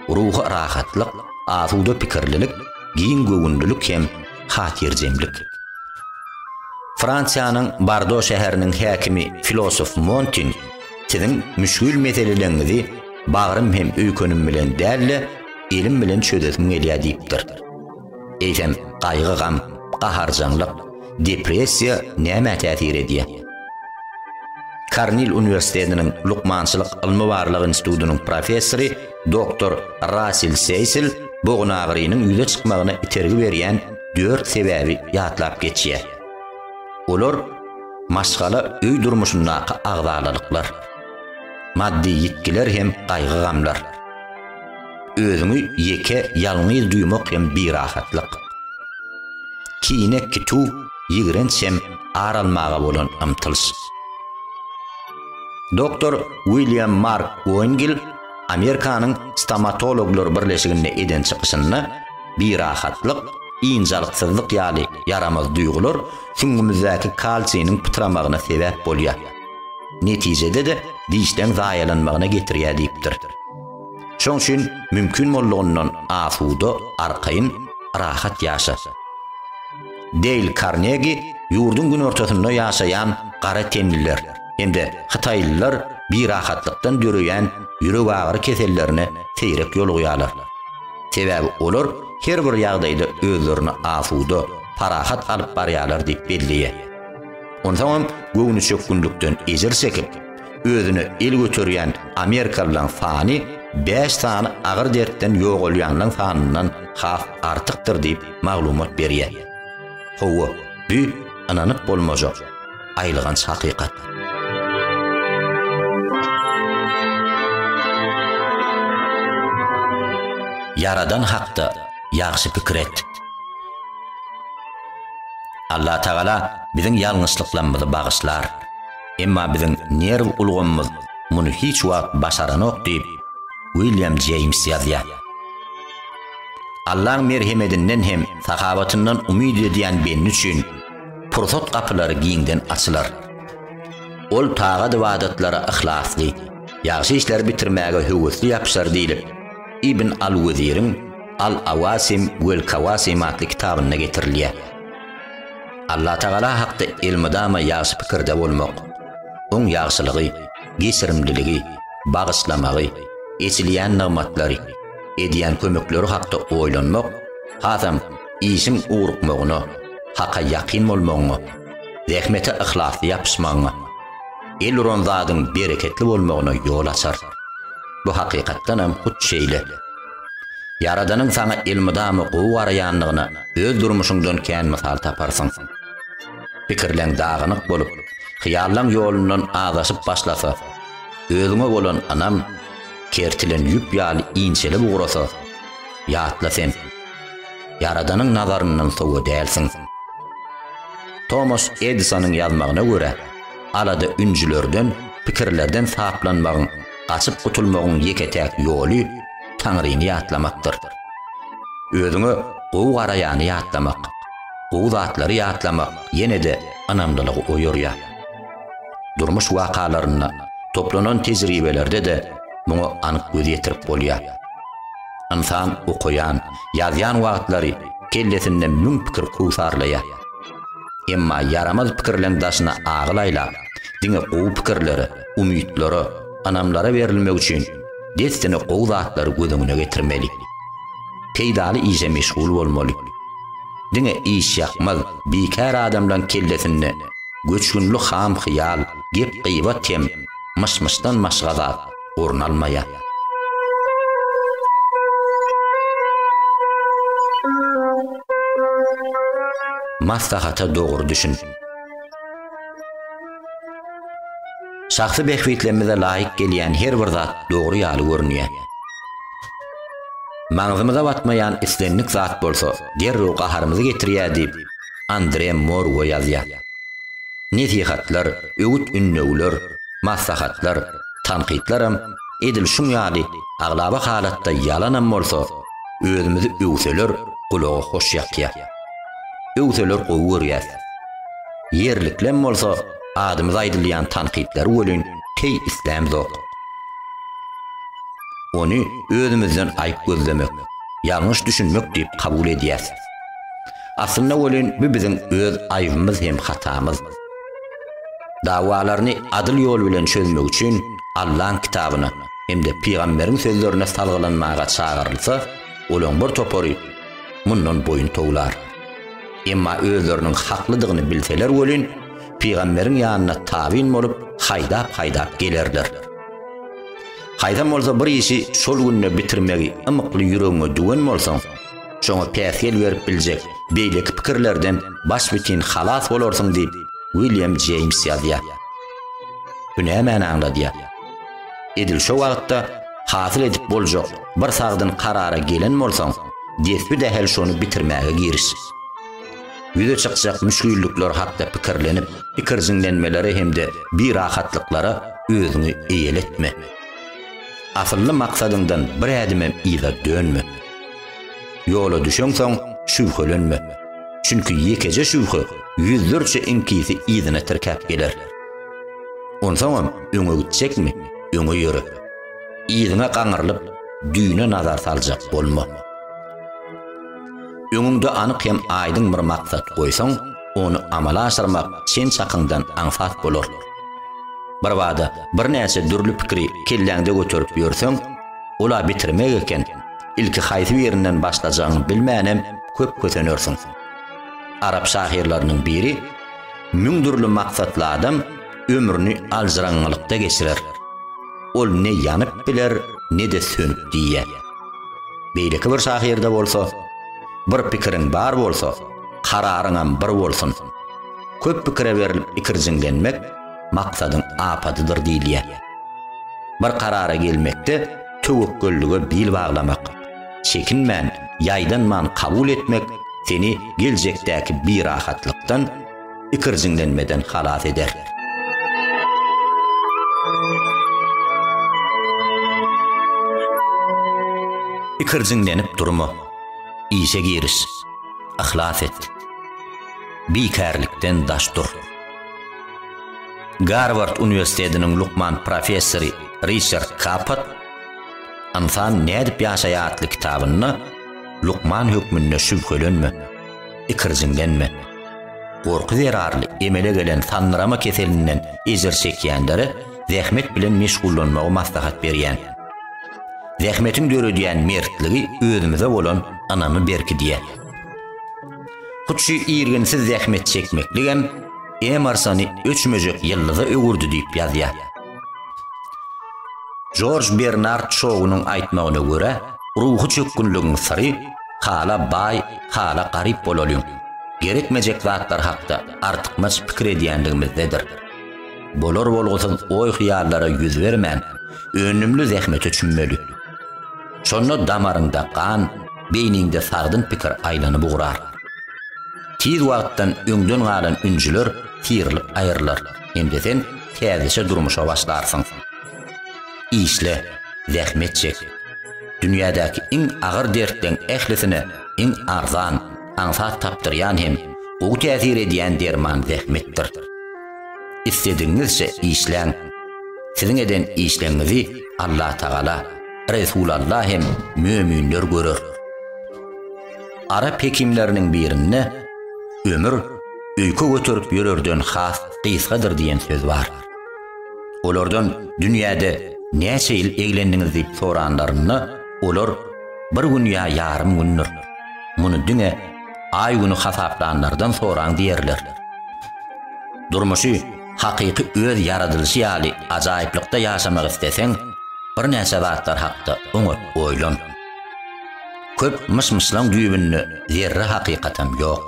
ruhy rahatlyk, asuda pikirlilik, giň göwünlilik hem, Hatyrjemlik. Fransiýanyň Bardo şäheriniň häkimi filosof Montin, Siziň müşgil meseleleňňizi bagrym hem öýkenim bilen däl-de, elim bilen çözesim gelýär diýipdir. Eýsem, gaýgy-gam, gaharjaňlyk, depressiýa nämä täsir edýär? Kornil uniwersitetiniň Lukmançylyk ylmy-barlag institutynyň professory, Doktor Rasil Seýsil bogunagyrynyň ýüze çykmagyna itergi berýän dört sebäbi ýatlap geçýär. Olar, maşgala, öý durmuşyndaky agzalalyklar, maddy ýitgiler hem gaýgy-gamlar. Özüňi ýeke, ýalňyz duýmak hem birahatlyk. Kine, kituw, ýigrenç hem ar almaga bolan ymtylyş. Doktor William Mark Goingil, Amerikanyň Stomatologlar birleşiginde eden çykyşynda, Birahatlyk, ynjalyksyzlyk ýaly ýaramaz duýgular süňňümizdäki kalsiniň pytramagyna sebäp bolýar. Netijede-de dişleň zaýalanmagyna getirýär diýipdir. Şoň üçin mümkin boldugyndan asuda, arkaýyn, rahat ýaşa. Deýl Karnegi ýurduň günortasynda ýaşaýan gara tenliler. hem-de hytaýlylar birahatlykdan döreýän ýüregagyry kesellerine seýrek ýolugýarlar. Sebäbi olar her bir ýagdaýda özlerini asuda, parahat alyp barýarlar diýip belleýär. Onsoňam göwnüçökgünlikden ejir çekip, özüne el göterýän amerikalylaryň sany bäş sany agyr dertden ýogalýanlaryň sanyndan has artykdyr diýip maglumat berýär. Hawa, bu ynanyp bolmajak. Aýylganç hakykat. Ýaradan hakda ýagşy pikir et. Allatagala biziň ýalňyşlyklarymyzy bagyşlar. Emma biziň nerw ulgamymyz muny hiç wagt başaranok diýip, William Jeýms ýazýar. Allaň merhemedinden hem sahabatyndan umyt edýän bendi üçin pursat gapylary giňden açylar. Ol tagat-ybadatlara yhlasly, ýagşy işleri bitirmäge höwesli ýapyşar diýlip, Ibn al-Weziriň Al-Awasim wel-Kawasim atly kitabynda getirilýär. Allatagala hakda elmydama ýagşy pikirde bolmak, Oň ýagşylygy, geçirimliligi, bagyşlamagy, eçilýän nygmatlary, edýän kömekleri hakda oýlanmak hasam işiň ugrukmagyna, haka ýakyn bolmagyňa, zähmete yhlasly ýapyşmagyňa, el uran zadyň bereketli bolmagyna ýol açar. Bu hakykatdanam hut şeýle. Ýaradanyň saňa elmydama gowy garaýandygyna öz durmuşyňdan kän mysal taparsyň. Pikirleň dagynyk bolup, hyýallaň ýolundan azaşyp başlasa, özüňe bolan ynam kertilen ýüp ýaly inçelip ugrasa, ýatla sen, Ýaradanyň nazaryndan sowa dälsiň. Tomas Edisonyň ýazmagyna görä, alada ünjülerden, pikirlerden saplanmagyň, gaçyp gutulmagyň ýeke-täk ýoly Taňryny ýatlamakdyr. Özüňe gowy garaýany ýatlamak, gowy zatlary ýatlamak ýene-de ynamlylygy oýarýar. Durmuş wakalarynda, toplanan tejribelerde-de muňa anyk göz ýetirip bolýar. Ynsan okaýan, ýazýan wagtlary kellesinde müň pikir kowsarlaýar. Emma ýaramaz pikirleň daşyna agyl aýlap, diňe gowy pikirlere, umytlara, ynamlara berilmek üçin dessine gowy zatlary göz öňüne getirmeli. Peýdaly işe meşgul bolmaly. Diňe işýakmaz, bikär adamlaň kellesinde göçgünli ham hyýal, gep-gybat hem myş-myşdan maşga zat. orun almaýar. Maslahata dogry düşün. Şahsy bähbitlerimize laýyk gelýän her bir zat dogry ýaly görünýär. Maňzymyza batmaýan islendik zat bolsa derrew gaharymyzy getirýär diýip, Andre Morwo ýazýar. Nesihatlar, öwüt-ündewler, maslahatlar, tankytlaram edil şuň ýaly aglaba halatda ýalanam bolsa, özümizi öwseler gulaga hoş ýakýar. Öwseler gowy görýäs. Ýerliklem bolsa adymyza aýdylýan tankytlary welin teý islämzok. Ony özümizden aýyp gözlemek, ýalňyş düşünmek diýip kabul edýäs. Aslynda welin bu biziň öz aýybymyz hem hatamyz. Dawalaryny adyl ýol bilen çözmek üçin Allaň kitabyna hem-de pygamberiň sözlerine salgylanmaga çagyrylsa, olaň bir topary mundan boýun towlar. Emma özleriniň haklydygyny bilseler welin, pygamberiň ýanyna tabyn bolup haýdap-haýdap gelerler. Haýsam bolsa bir işi şol günde bitirmegi ymykly ýüregiňe düwen bolsaň, Şoňa päsgel berip biljek beýleki pikirlerden başbitin halas bolarsyň diýip, William Jeýms ýazýar. Bu nämäni aňladýar? Edil şo wagtda hasyl edip boljak bir sagdyn karara gelen bolsaň, desbi dähel şony bitirmäge giriş. Ýüze çykjak müşgillikler hakda pikirlenip, ikirjiňlenmelere hem-de birahatlyklara özüňi eýeletme. Asylly maksadyňdan bir ädimem yza dönme. Ýola düşeňsoň, şübhelenme. Çünki ýekeje şübhe ýüzlerçe iňkisi yzyna tirkäp geler. Onsoňam öňe gitjekmi, öňe ýöre. Yzyňa gaňrylyp, düýne nazar saljak bolma. Öňüňde anyk hem aýdyň bir maksat goýsaň, ony amala aşyrmak çen-çakyňdan aňsat bolar. Birbada birnäçe dürli pikiri kelläňde göterip ýörseň, Ol-a bitirmek eken, ilki haýsy birinden başlajagyňy bilmänem köp kösenersiň. Arap şahyrlarynyň biri, Müň dürli maksatly adam ömrüni aljyraňňylykda geçirer. Ol ne ýanyp biler, ne-de sönüp diýýär. Beýleki bir şahyrda bolsa, Bir pikiriň bar bolsa, kararyňam bir bolsun. Köp pikire berlip ikirjiňlenmek, maksadyň apadydyr diýilýär. Bir karara gelmekde töwekgellige bil baglamak, çekinmän, ýaýdanman kabul etmek seni geljekdäki birahatlykdan, ikirjiňlenmeden halas eder. Ikirjiňlenip durma. Işe giriş. Yhlas et. Bikärlikden daş dur. Garward uniwersitetiniň lukman professory Riçard Kapot Ynsan nädip ýaşaýar atly kitabynda Lukman hökmünde şübhelenme, ikirjiňlenme. Gorky zerarly emele gelen sandyrama keselinden ejir çekýänlere zähmet bilen meşgullanmagy maslahat berýän. Zähmetiň döredýän mertligi özümize bolan ynamy berkidýär. Hut şu irginsiz zähmet çekmekligem Emarsony öçmejek ýyldyza öwürdi diýip ýazýar. Jorj Bernard Şounyň aýtmagyna görä, ruhy çökgünligiň syry hala baý, hala garyp bolalyň, gerekmejek zatlar hakda artykmaç pikir edýänligimizdedir. Bolar-bolgusyz oý-hyýallara ýüz bermän, önümli zähmete çümmeli. Şonda damaryňda gan, beýniňde sagdyn pikir aýlanyp ugrar. Tiz wagtdan öňden galan ünjüler syrylyp aýrylar hem-de sen täzeçe durmuşa başlarsyň. Işle, zähmet çek. Dünýädäki iň agyr dertleň ählisine iň arzan, aňsat tapdyrýan hem gowy täsir edýän derman zähmetdir. Isledigiňizçe işläň. Siziň eden işleňňizi Allatagala, Resulalla hem möminler görer. Arap hekimleriniň birinde ömür öýke göterip ýörerden has gysgadyr diýen söz bar. Olardan dünýäde näçe ýyl eglendiňiz diýip soranlarynda, olar bir gün ýa ýarym gündür. Muny diňe aý güni hasaplanlardan soraň diýerler. Durmuşy Hakyky öz ýaradylyşy ýaly ajaýyplykda ýaşamak isleseň, birnäçe zatlar hakda oňat oýlan. Köp myş-myşlaň düýbünde zerre hakykatam ýok.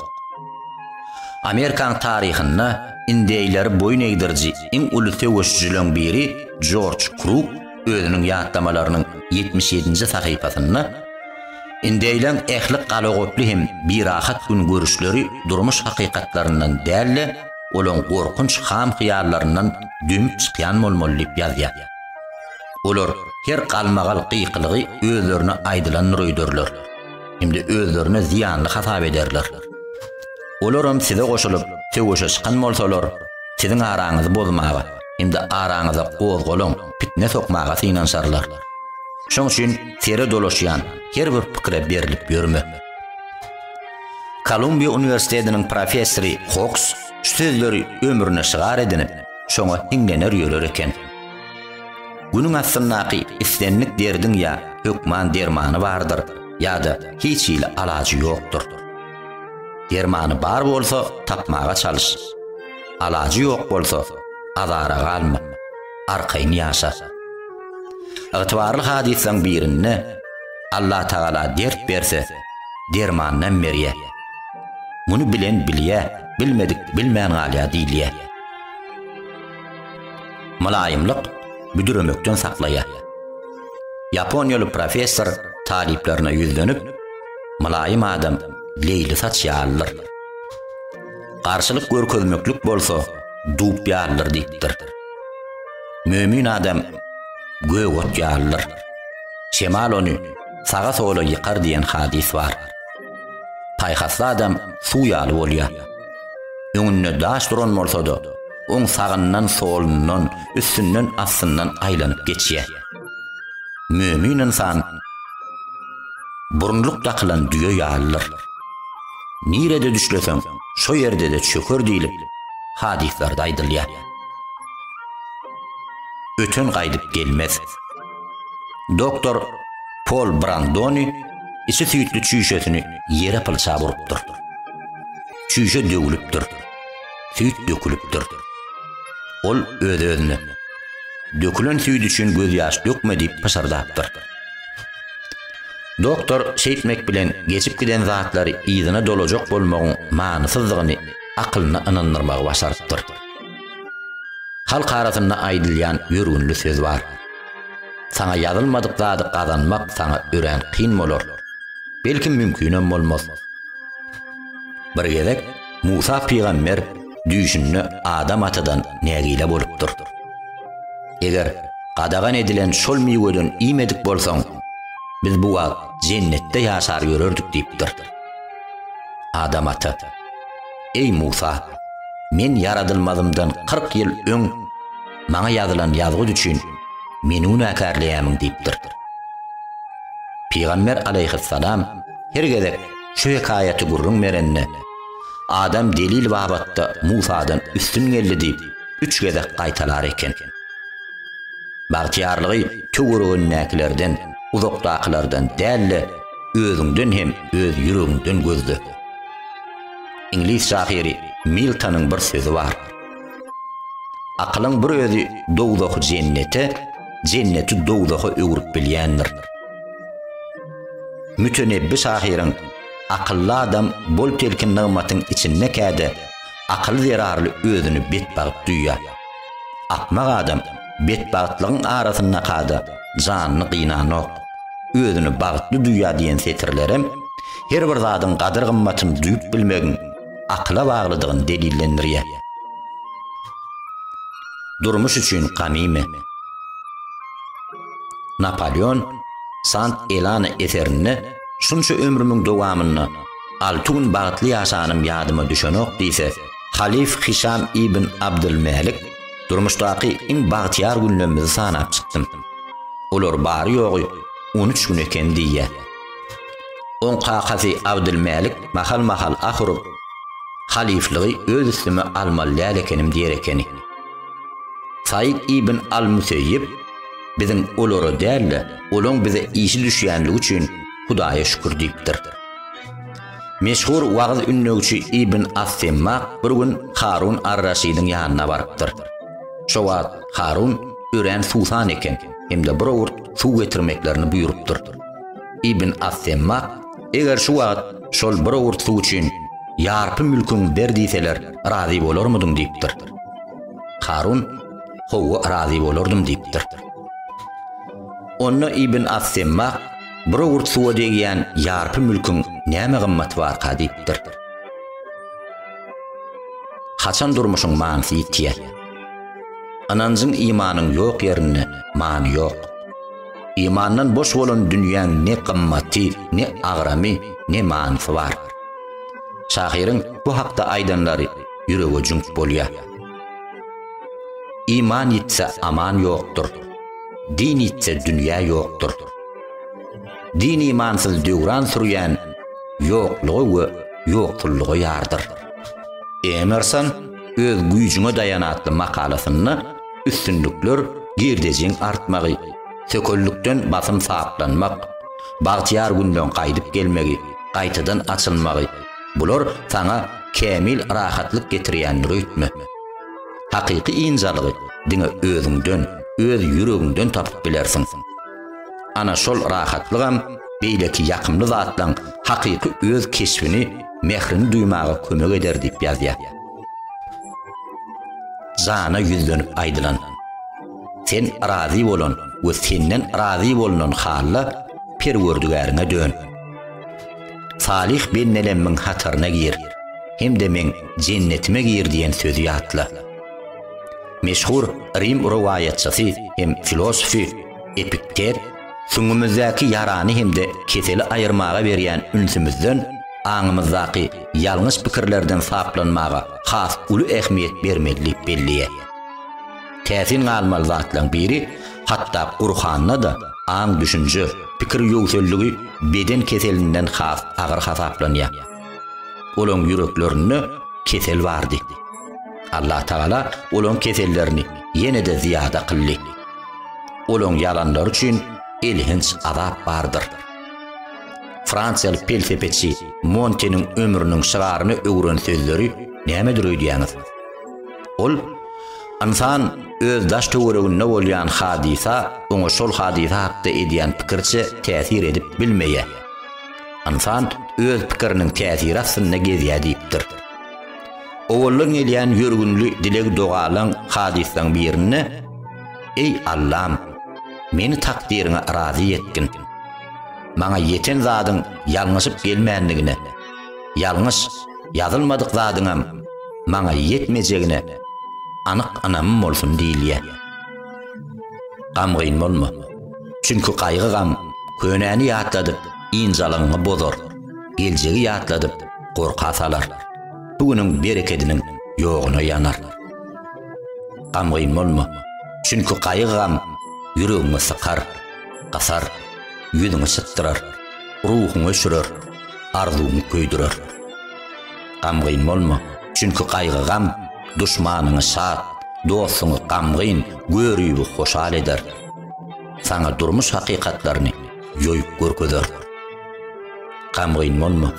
Amerikaň taryhynda indeýleri boýun egdiriji iň uly söweşijileň biri Jorj Kruk özüniň ýatlamalarynyň ýetmiş ýedinji sahypasynda, Indeýleň ähli galagoply hem birahat gün görüşleri durmuş hakykatlaryndan däl-de, olaň gorkunç ham-hyýallaryndan dönüp çykýan bolmaly diýip ýazýar. Olar her galmagal gykylygy özlerine aýdylandyr öýderler hem-de özlerine zyýanly hasap ederler. Olaram size goşulyp, söweşe çykan bolsalar, siziň araňyzy bozmaga hem-de araňyza gozgalaň, pitne sokmaga synanyşarlar. Şoň üçin sere dolaşýan her bir pikire berlip ýörme. Kolumbiýa uniwersitetiniň professory Koks şu sözleri ömrüne şygar edinip, şoňa hiňlener ýörer eken. Günüň astyndaky islendik derdiň ýa hökman dermany bardyr, ýa-da hiç hili alajy ýokdur. Dermany bar bolsa, tapmaga çalyş. Alajy ýok bolsa, azara galma, arkaýyn ýaşa. Ygtybarly hadyslaň birinde, Allah Tagala dert berse, dermanynam berýä. Muny bilen bilýä, bilmedik bilmän galýa diýilýä. Mylaýymlyk büdüremekden saklaýa. Ýaponiýaly professor talyplaryna ýüzlenip, Mylaýym adam leýli saç ýalydyr. Garşylyk görkezmeklik bolsa dub ýalydyr diýipdir. Mömin adam gök ot ýalydyr. Şemal ony saga-sola ýykar diýen hadys bar. Paýhasly adam suw ýaly bolýar. Öňünde daş duran bolsa-da, oň sagyndan, solundan, üstünden, astyndan aýlanyp geçýär. Mömin ynsan burunlyk dakylan düýe ýalydyr. Nirede düşleseň, şo ýerde-de çöker diýlip, hadyslarda aýdylýar. Öten gaýdyp gelmez. Doktor Pol Brandoni içi süýtli çüýşesini ýere pylçap urupdyr. Çüýşe döwülipdir. Süýt dökülipdir. Ol öz-özüne dökülen süýt üçin gözýaş dökme diýip pyşyrdapdyr. Doktor şeýtmek bilen geçip giden zatlary yzyna dolajak bolmagyň manysyzdygyny akylyna ynandyrmagy başarypdyr. Halk arasynda aýdylýan ýörgünli söz bar. Saňa ýazylmadyk zady gazanmak saňa örän kyn bolar. Belki mümkinem bolmaz. Bir gezek Musa pygamber düýşünde Adam atadan nägile bolupdyr. Eger gadagan edilen şol miweden iýmedik bolsaň, biz bu wagt jennetde ýaşar ýörerdik diýipdir. Adam ata. Eý Musa, men ýaradylmazymdan kyrk ýyl öň maňa ýazylan ýazgyt üçin meni günäkärleýämiň diýipdir. Pygamber alaýhyssalam her gezek şu hekaýaty gürrüň berende, Adam delil babatda Musadan üstün geldi diýip, üç gezek gaýtalar eken. Bagtyýarlygy töweregindäkilerden, uzakdakylardan däl-de, özüňden hem öz ýüregiňden gözle. Iňlis şahyry Miltonyň bir sözi bar. Akylyň bir özi dowzahy jennete, jenneti dowzaha öwrüp bilýändir. Mütenebbi şahyryň Akylly adam bol telkin nygmatyň içinde käde akyly zerarly özüni betbagt duýýar. Akmak adam betbagtlygyň arasyndaka-da janyny gynanok. Özüni bagtly duýýar diýen setirlerem her bir zadyň gadyr-gymmatyny duýup bilmegiň akyla baglydygyny delillendirýär. Durmuş üçin gamymy. Napaleon Sant Elana eserinde Şunça ömrümiň dowamynda alty gün bagtly ýaşanym ýadyma düşenok diýse, Halyf Hişam ibn Abdylmälik, Durmuşdaky iň bagtyýar günlemmizi sanap çykdym. Olar bary-ýogy on üç gün eken diýýär. Oň kakasy Abdylmälik mahal-mahal ah urup, Halyflygy öz üstüme almaly däl ekenim diýer ekeni. Saýd ibn al-Müseýýib, Biziň olara däl-de, olaň bize işi düşýänligi üçin Hudaýa şükür diýipdir. Meşhur wagyz-ündewçi Ibn as-Semmak bir gün Harun ar-Raşydyň ýanyna barypdyr. Şo wagt Harun örän suwsan eken hem-de bir owurt suw getirmeklerini buýrupdyr. Ibn as-Semmak, Eger şu wagt şol bir owurt suw üçin ýarpy mülküňi ber diýseler, razy bolarmydyň? diýipdir. Harun, Hawa, razy bolardym diýipdir. Onda Ibn as-Semmak, Bura gurt suwa degýän ýarpy mülküň näme gymmaty barka diýipdir. Haçan durmuşyň manysy ýitýär? Ynanjyň imanyň ýok ýerinde many ýok. Imandan boş bolan dünýäň ne gymmaty, ne agramy, ne manysy bar. Şahyryň bu hakda aýdanlary ýürege jüňk bolýar. Iman ýitse aman ýokdur. Din ýitse dünýä ýokdur. Din-imansyz döwran sürýän ýokluga we ýokullyga ýardyr. Emerson öz güýjüňe daýan atly makalasynda üstünlikler girdejiň artmagy, sökellikden basym saplanmak, bagtyýar günden gaýdyp gelmegi, gaýtadan açylmagy, bular saňa kämil rahatlyk getirýändir öýtme. Hakyky ynjalygy diňe özüňden, öz ýüregiňden tapyp bilersiň. Ana şol rahatlygam beýleki ýakymly zatlaň hakyky öz keşbini, mährini duýmaga kömek eder diýip ýazýar. Jana ýüzlenip aýdylan, Sen razy bolan we senden razy bolnan halla Perwerdigäriňe dön. Salyh bendelemmiň hataryna gir hem-de meň jennetime gir diýen sözi ýatla. Meşhur rim rowaýatçysy hem filosofy Epikter süňňümizdäki ýarany hem-de keseli aýyrmaga berýän ünsümizden, aňymyzdaky ýalňyş pikirlerden saplanmaga has uly ähmiýet bermeli diýip belleýär. Täsin galmaly zatlaryň biri, hatda Gurhanda-da aň-düşünje, pikir ýöwselligi beden keselinden has agyr hasaplanýar. Olaryň ýüreklerinde kesel bardy. Allatagala olaryň kesellerini ýene-de zyýada kyldy. Olaryň ýalanlary üçin elhenç azap bardyr. Fransiýaly pelsepeçi Monteniň ömrüniň şygaryna öwren sözleri nämedir öýdýäňiz? Ol, Ynsan öz daş-töwereginde bolýan hadysa oňa şol hadysa hakda edýän pikirçe täsir edip bilmeýär. Ynsan öz pikiriniň täsiri astynda gezýär diýipdir. Owaldan gelýän ýörgünli dileg-dogalaň hadyslaň birinde, Eý, Allam, meni takdyryňa razy etgin. Maňa ýeten zadyň ýalňyşyp gelmändigine, Ýalňyş, ýazylmadyk zadyňam maňa ýetmejegine anyk ynamym bolsun diýilýä. Gamgyn bolma. Çünki gaýgy-gam könäni ýatladyp, ynjalygyňy bozar, geljegi ýatladyp, gorka salar. Bu günüň berekediniň ýoguna ýanar. Gamgyn bolma. Çünki gaýgy-gam ýüregiňi sykar, gysar, ýüzüňi sypdyrar, ruhuňy öçürer. arzuwyňy köýdürer. Gamgyn bolma, çünki gaýgy-gam duşmanyňy şat, dostuňy gamgyn, göribi hoşal eder. Saňa durmuş hakykatlaryny ýoýup görkezer. Gamgyn bolma,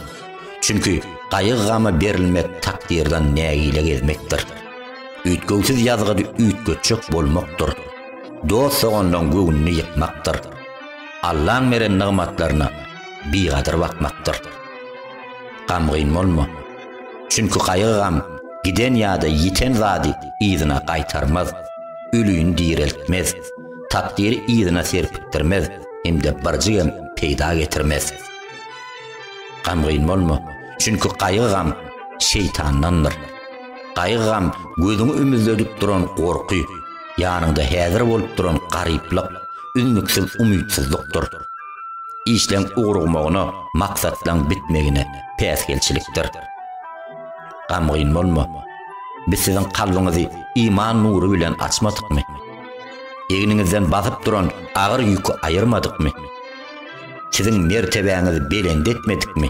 çünki gaýgy-gama berilmek takdyrdan nägile gezmekdir. Üýtgewsiz ýazgydy üýtgetjek bolmakdyr. Dost-dogandan göwnüni ýykmakdyr. Allaň beren nygmatlaryna bigadyr bakmakdyr. Gamgyn bolma. Çünki gaýgy-gam giden ýa-da ýiten zady yzyna gaýtarmaz, ölüni direltmez, takdyry yzyna serpikdirmez hem-de birjigem peýda getirmez. Gamgyn bolma, çünki gaýgy-gam şeýtandandyr. Gaýgy-gam, gözüňi ümüzledip duran gorky, ýanyňda häzir bolup duran garyplyk, üznüksiz umytsyzlykdyr. Işleň ugrugmagyna, maksatlaň bitmegine päsgelçilikdir. Gamgyn bolma. Biz siziň kalbyňyzy iman nury bilen açmadykmy? Egniňizden basyp duran agyr ýüki aýyrmadykmy? Siziň mertebäňizi belent etmedikmi?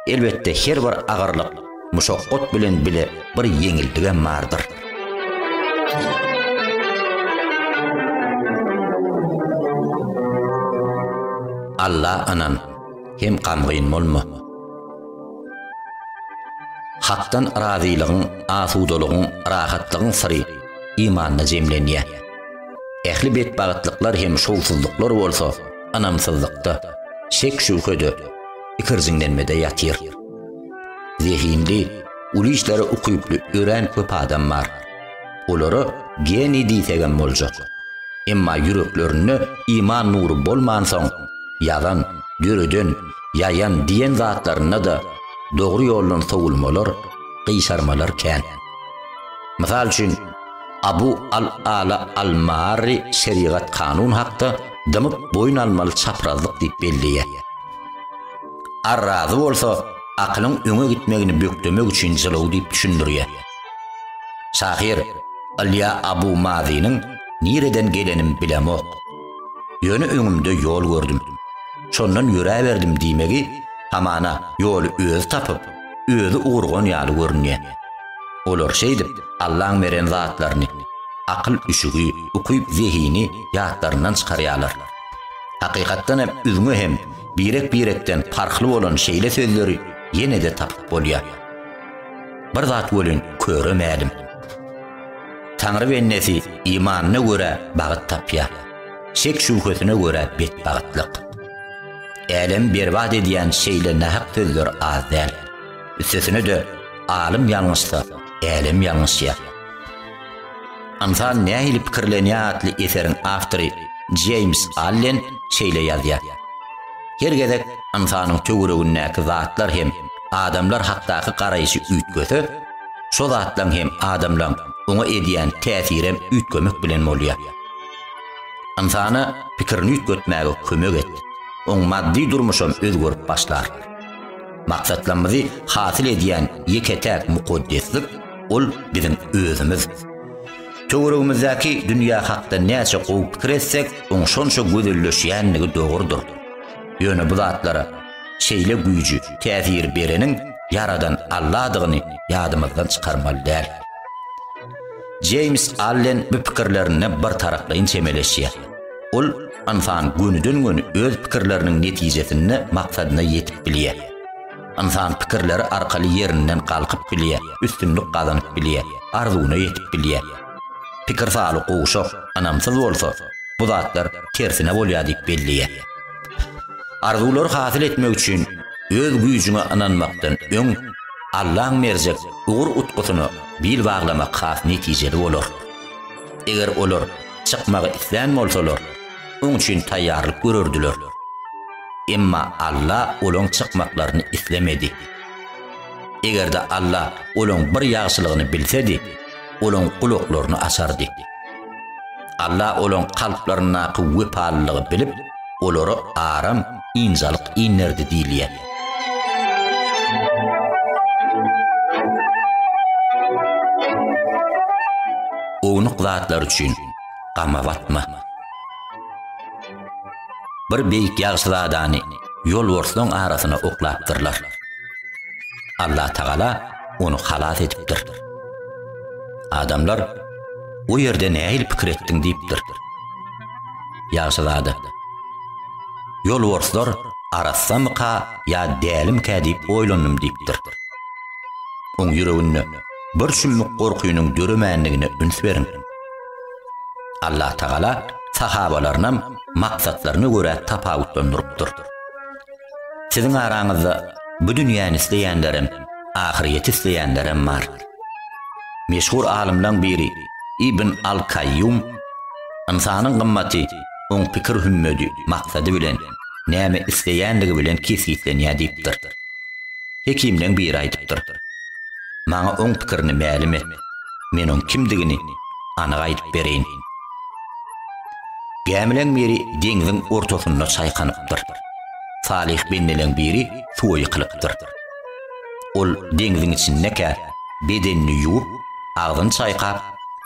Elbetde, her bir agyrlyk Muşakgat bilen bile bir ýeňildigem bardyr. Alla anan, hem gamgyn bolma. Hakdan razylygyň, asudalygyň, rahatlygyň syry imanda jemlenýär. Ähli betbagtlyklar hem şowsuzlyklar bolsa ynamsyzlykda, şek-şübhede, ikirjiňlenmede ýatyr. Zehinli, uly işlere ukyply, örän köp adam bar. Olara geniý diýsegem boljak. Emma ýüreklerinde iman nury bolmansoň, ýazan, döreden, ýaýan diýen zatlarynda-da dogry ýoldan sowulmalar, gyşarmalar kän. Mysal üçin, Abu al-Ala al-Maarri şerigat-kanun hakda dymyp boýun almaly çaprazlyk diýip belleýär. Ar razy bolsa, akylyň öňe gitmegini bökdemek üçin jylaw diýip düşündirýär. Şahyr Ylýa Abu Mazynyň Nireden gelenim bilemok. Ýöne öňümde ýol gördüm. Şondan ýöräberdim diýmegi hamana ýoly özi tapyp, özi ugurgan ýaly görünýär. Olar şeýdip Allaň beren zatlaryny, akyl üşügi, ukyp zehini ýatlaryndan çykarýarlar. Hakykatdan hem üzňe hem Birek-birekden parhly bolan şeýle sözleri ýene-de tapyp bolýar. Bir zat welin köre mälim. Taňry bendesi imanyna görä bagt tapýar, şek-şübhesine görä betbagtlyk. Älemi berbat edýän şeýle nähak sözler az däl. Üstesine-de, alym ýalňyşsa, älem ýalňyşýar. Ynsan nähili pikirlenýär atly eseriň awtory Jeýms Allen şeýle ýazýar, Her gezek ynsanyň töweregindäki zatlar hem adamlar hakdaky garaýşy üýtgese, şo zatlaň hem adamlaň oňa edýän täsirem üýtgemek bilen bolýar. Ynsana pikirini üýtgetmäge kömek et, oň maddy durmuşam özgerip başlar. Maksatlarymyzy hasyl edýän ýeke-täk mukaddeslik, Ol biziň özümiz. Töweregimizdäki dünýä hakda näçe gowy pikir etsek, oň şonça gözelleşýändigi dogrudyr. Ýöne bu zatlara şeýle güýji, täsiri bereniň Ýaradan Alladygyny ýadymyzdan çykarmaly däl. Jeýms Allen bu pikirlerine birtaraplaýyn çemeleşýär. Ol, Ynsan gönüden-göni öz pikirleriniň netijesinde maksadyna ýetip bilýär. Ynsan pikirleri arkaly ýerinden galkyp bilýär, üstünlik gazanyp bilýär, arzuwyna ýetip bilýär. Pikir saly gowşak, ynamsyz bolsa, bu zatlar tersine bolýar diýip belleýär. Arzuwlary hasyl etmek üçin öz güýjüňe ynanmakdan öň, Allaň berjek ugur-utgusyna bil baglamak has netijeli bolar. Eger olar çykmagy islän bolsalar, oň üçin taýýarlyk görerdiler. Emma Alla olaň çykmaklaryny islemedi. Eger-de Alla olaň bir ýagşylygyny bilsedi, olaň gulaklaryny açardy. Alla olaň kalplaryndaky wepalylygy bilip, olara aram, ynjalyk inderdi diýilýär. Ownuk zatlar üçin gama batma. Bir beýik ýagşyzadany ýolbarslaryň arasyna oklapdyrlar. Allatagala ony halas edipdir. Adamlar, O ýerde nähili pikir etdiň diýipdir. Ýagşyzada, Ýolbarslar arassamyka ýa dälimkä diýip oýlandym diýipdir. Oň ýüreginde bir şümmük gorkynyň döremändigine üns beriň. Allatagala sahabalarynam maksatlaryna görä tapawutlandyrypdyr. Siziň araňyzda bu dünýäni isleýänlerem, ahyrýeti isleýänlerem bar. Meşhur alymlaň biri Ibn al-Kaýýum ynsanyň gymmaty oň pikir hümmedi, maksady bilen, näme isleýändigi bilen kesgitlenýär diýipdir. Hekimleň biri aýdypdyr. Maňa oň pikirini mälim et. men oň kimdigini anyk aýdyp bereýin. Gämileň biri deňziň ortasynda çaýkanypdyr. Salyh bendeleň biri suwa ýykylypdyr. Ol deňziň içindekä bedenini ýuwup, agzyny çaýkap,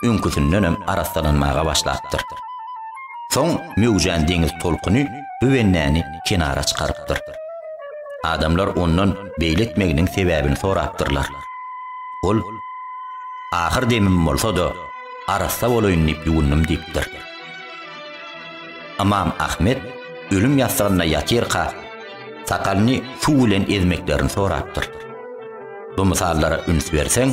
öňküsindenem arassalanmaga başlapdyr. Soň möwjän deňiz tolkuny bu bendäni kenara çykarypdyr. Adamlar ondan beýle etmeginiň sebäbini sorapdyrlar. Ol Ahyr demim bolsa-da, arassa bolaýyn diýip ýuwundym diýipdir. Ymam Ahmet ölüm ýassygynda ýatyrka, sakalyny suw bilen ezmeklerini sorapdyr. Bu mysallara üns berseň,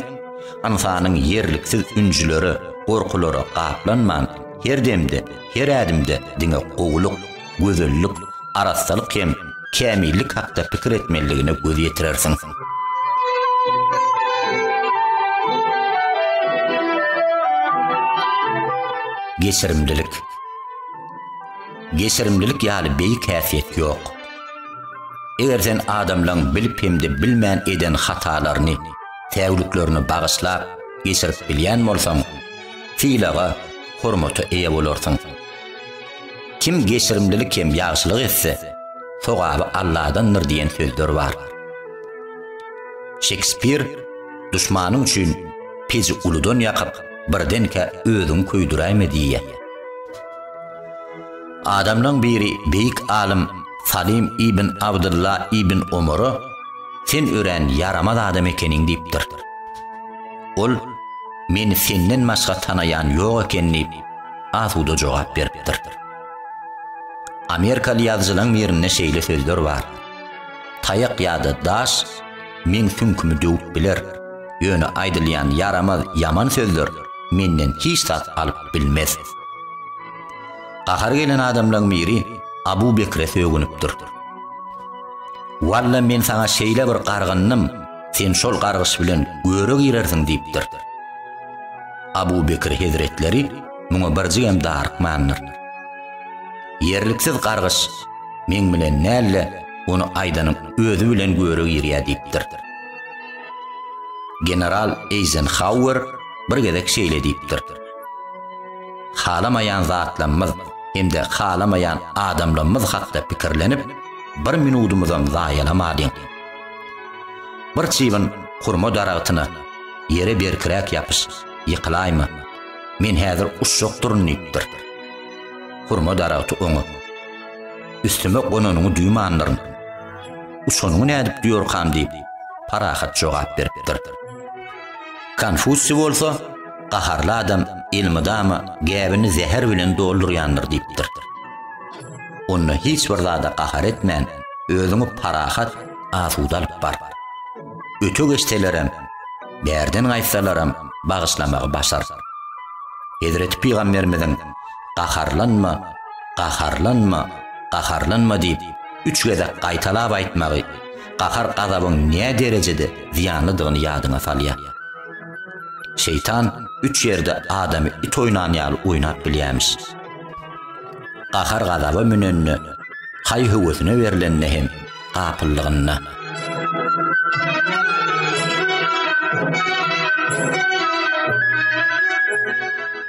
ynsanyň ýerliksiz ünjülere, gorkulara gaplanman, her demde, her ädimde diňe gowulyk, gözellik, arassalyk hem kämillik hakda pikir etmelidigine göz ýetirersiň. Geçirimlilik Geçirimlilik ýaly beýik häsiýet ýok. Eger sen adamlaryň bilip hem-de bilmän eden hatalaryny, säwliklerini bagyşlap, geçirip bilýän bolsaň, sylaga, hormata eýe bolarsyň. Kim geçirimlilik hem ýagşylyk etse, sogaby Alladandyr diýen sözler bar. Şekspir duşmanyň üçin peji uludan ýakyp, birdenkä özüňi köýdüräýme diýýär. Adamlaryň biri beýik alym Salim ibn Abdylla ibn Omara Sen örän ýaramaz adam ekeniň diýipdir. Ol Meni senden başga tanaýan ýok eken diýip, asuda jogap beripdir. Amerikaly ýazyjylaň birinde şeýle sözler bar. Taýak ýa-da daş meň süňkümi döwüp biler, ýöne aýdylýan ýaramaz, ýaman sözler menden hiç zat alyp bilmez. Gahary gelen adamlaň biri Abu Bekre sögünipdir. Walla men saňa şeýle bir gargyndym, sen şol gargyş bilen göre girersiň diýipdir. Abu Bekr hezretleri muňa birjigem darykmandyr. Ýerliksiz gargyş, Meň bilen näl-le, ony aýdanyň özi bilen göre girýär diýipdir. General Eýzenhauer bir gezek şeýle diýipdir, Halamaýan zatlamyz hem-de halamaýan adamlamyz hakda pikirlenip, bir minudymyzam zaýalamadyň. Bir çybyn hurma daragtyna Ýere berkiräk ýapyş, ýykylaýma. Men häzir uçjak durun diýipdir. Hurma daragty oňa. Üstüme gonanyňy duýmandyryn. Uçanyňy nädip duýarkam diýip, parahat jogap beripdir. Konfusiý bolsa, gaharly adam elmydama gäbini zäher bilen doldurýandyr diýipdir. Onda hiç bir zada gahar etmän, özüňi parahat, asuda alyp bar. Öte geçselerem, bärden gaýtsalaram bagyşlamagy başar. Hezreti Pygamberimiziň Gaharlanma, gaharlanma, gaharlanma diýip, üç gezek gaýtalap aýtmagy gahar-gazabyň nä derejede zyýanlydygyny ýadyňa salýar. Şeýtan üç ýerde adamy it oýnan ýaly oýnap bilýärmiş. Gahar-gazaba münende, haý-höwesine berlende hem gapyllygynda.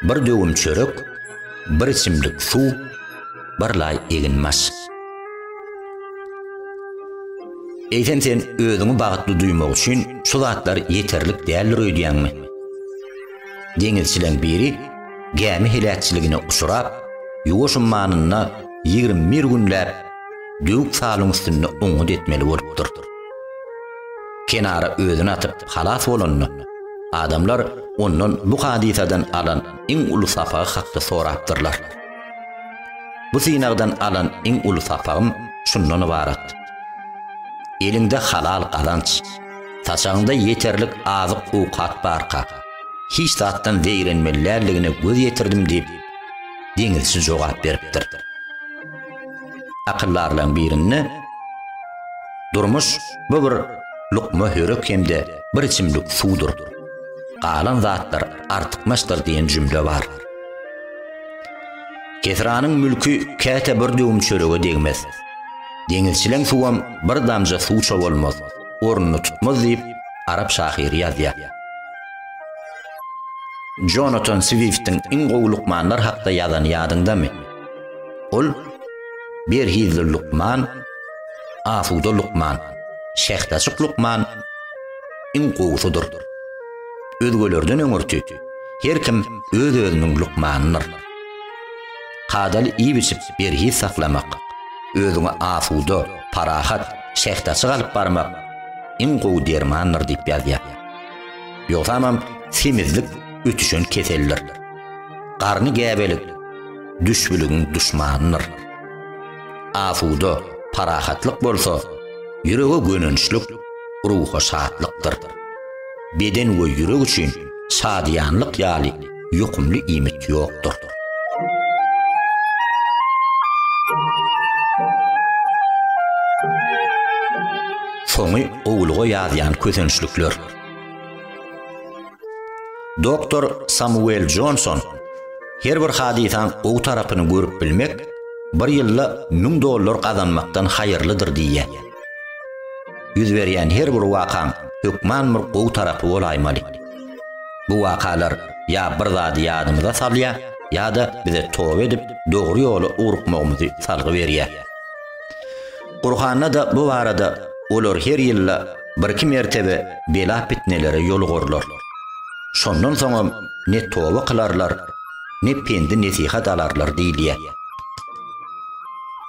Bir döwüm çörek, bir içimlik suw, bir laý eginbaş. Eýsem sen özüňi bagtly duýmak üçin şu zatlar ýeterlik däldir öýdýäňmi? Deňizçileň biri gämi heläkçiligine uçrap, ýuwaş ummanynda 21 günläp döwük salyň üstünde oňňut etmeli bolupdyr. Kenara özüni atyp halas bolanda, adamlar ondan bu hadysadan alan iň uly sapagy hakda sorapdyrlar. Bu synagdan alan iň uly sapagym şundan ybarat, Eliňde halal gazanç, saçagyňda ýeterlik azyk-owkat barka, hiç zatdan zeýrenmeli däldigine göz ýetirdim diýip, deňizçi jogap beripdir. Akyldarlaň birinde Durmuş bu bir lukma hörek hem-de bir içimlik suwdur. Galan zatlar artykmaçdyr diýen jümle bar. Kesranyň mülki käte bir döwüm çörege degmez. Deňizçileň suwam bir damja suw çobalmaz, ornuny tutmaz diýip, arap şahyry ýazýar. Jonatan Swiftiň iň gowy lukmanlar hakda ýazany ýadyňdamy? Ol Berhizli lukman, Asuda lukman, Şähdaçyk lukman iň gowusydyr. Özgelerden öňürti her kim öz-özüniň lukmanydyr. Kadaly iýip-içip berhiz saklamak, özüňi asuda, parahat, şähdaçyk alyp barmak iň gowy dermandyr diýip ýazýar. Ýogsamam semizlik ötüşen keseldir. Garny gäbelik düşbüligiň duşmanydyr. Asuda parahatlyk bolsa, ýürege gönençlik, ruha şatlykdyr. Beden we ýürek üçin şadyýanlyk ýaly ýokumly iýmit ýokdur. Soňy gowulyga ýazýan kösençlikler. Doktor Samuel Jonson, Her bir hadysaň gowy tarapyny görüp bilmek bir ýylda müň dollar gazanmakdan haýyrlydyr diýýär. Ýüz berýän her bir wakaň hökman bir gowy tarapy bolaýmaly. Bu wakalar ýa bir zady ýadymyza salýar, ýa-da bize toba edip, dogry ýola ugrukmagymyzy salgy berýär. Gurhanda-da bu barada Olar her ýylda Birki mertebe bela-pitnelere ýolugurylar. Şondan soňam ne toba kylarlar, ne pendi-nesihat alarlar diýilýär.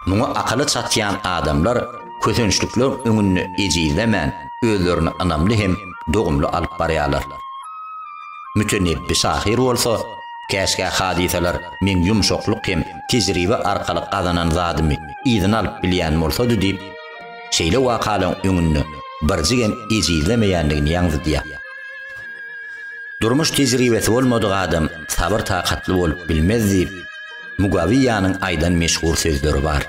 Muňa akyly çatýan adamlar kösençlikler öňünde ejizlemän, özlerini ynamly hem dogumly alyp barýarlar. Mütenebbi şahyr bolsa, Käşgä hadysalar meň ýumşaklyk hem tejribe arkaly gazanan zadymy yzyna alyp bilýän bolsady diýip, şeýle wakalaryň öňünde birjigem ejizlemeýändigini ýaňzydýar. Durmuş tejribesi bolmadyk adam sabyr-takatly bolup bilmez diýip, Mugawiýanyň aýdan meşhur sözleri bar.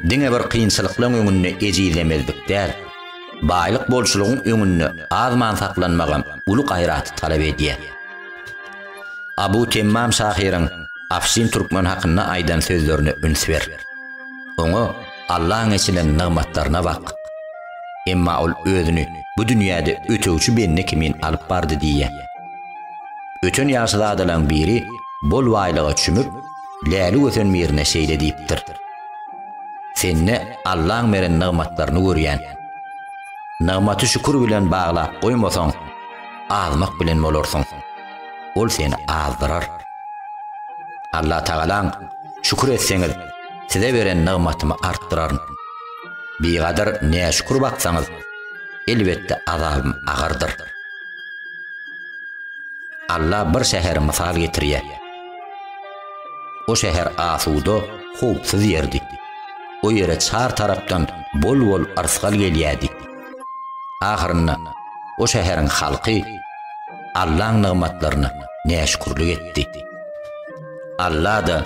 Diňe bir kynçylyklaryň öňünde ejizlemezlik däl, baýlyk bolçulygyň öňünde azman saklanmagam uly gaýraty talap edýär. Abu Temmam şahyryň Afşin Türkmen hakynda aýdan sözlerine üns ber. Oňa. Allaň eçilen nygmatlaryna bak! Emma ol özüni bu dünýäde ötegçi bende kimin alyp bardy diýýär. Öten ýagşyzadalaň biri bol baýlyga çümüp, läli gösen birine şeýle diýipdir, Sende Allaň beren nygmatlaryny görýän. Nygmaty şükür bilen baglap goýmasaň, azmak bilen bolarsyň. Ol seni azdyrar. Allatagalaň şükür etseňiz, Size beren nygmatymy artdyraryn. Bigadyr näşükür baksaňyz, elbetde azabym agyrdyr. Alla bir şäheri mysal getirýär. O şäher asuda, howpsuz ýerdi. O ýere çar tarapdan bol-bol yrsgal gelýärdi. Ahyrynda o şäheriň halky Allaň nygmatlaryna näşükürlik etdi. Alla-da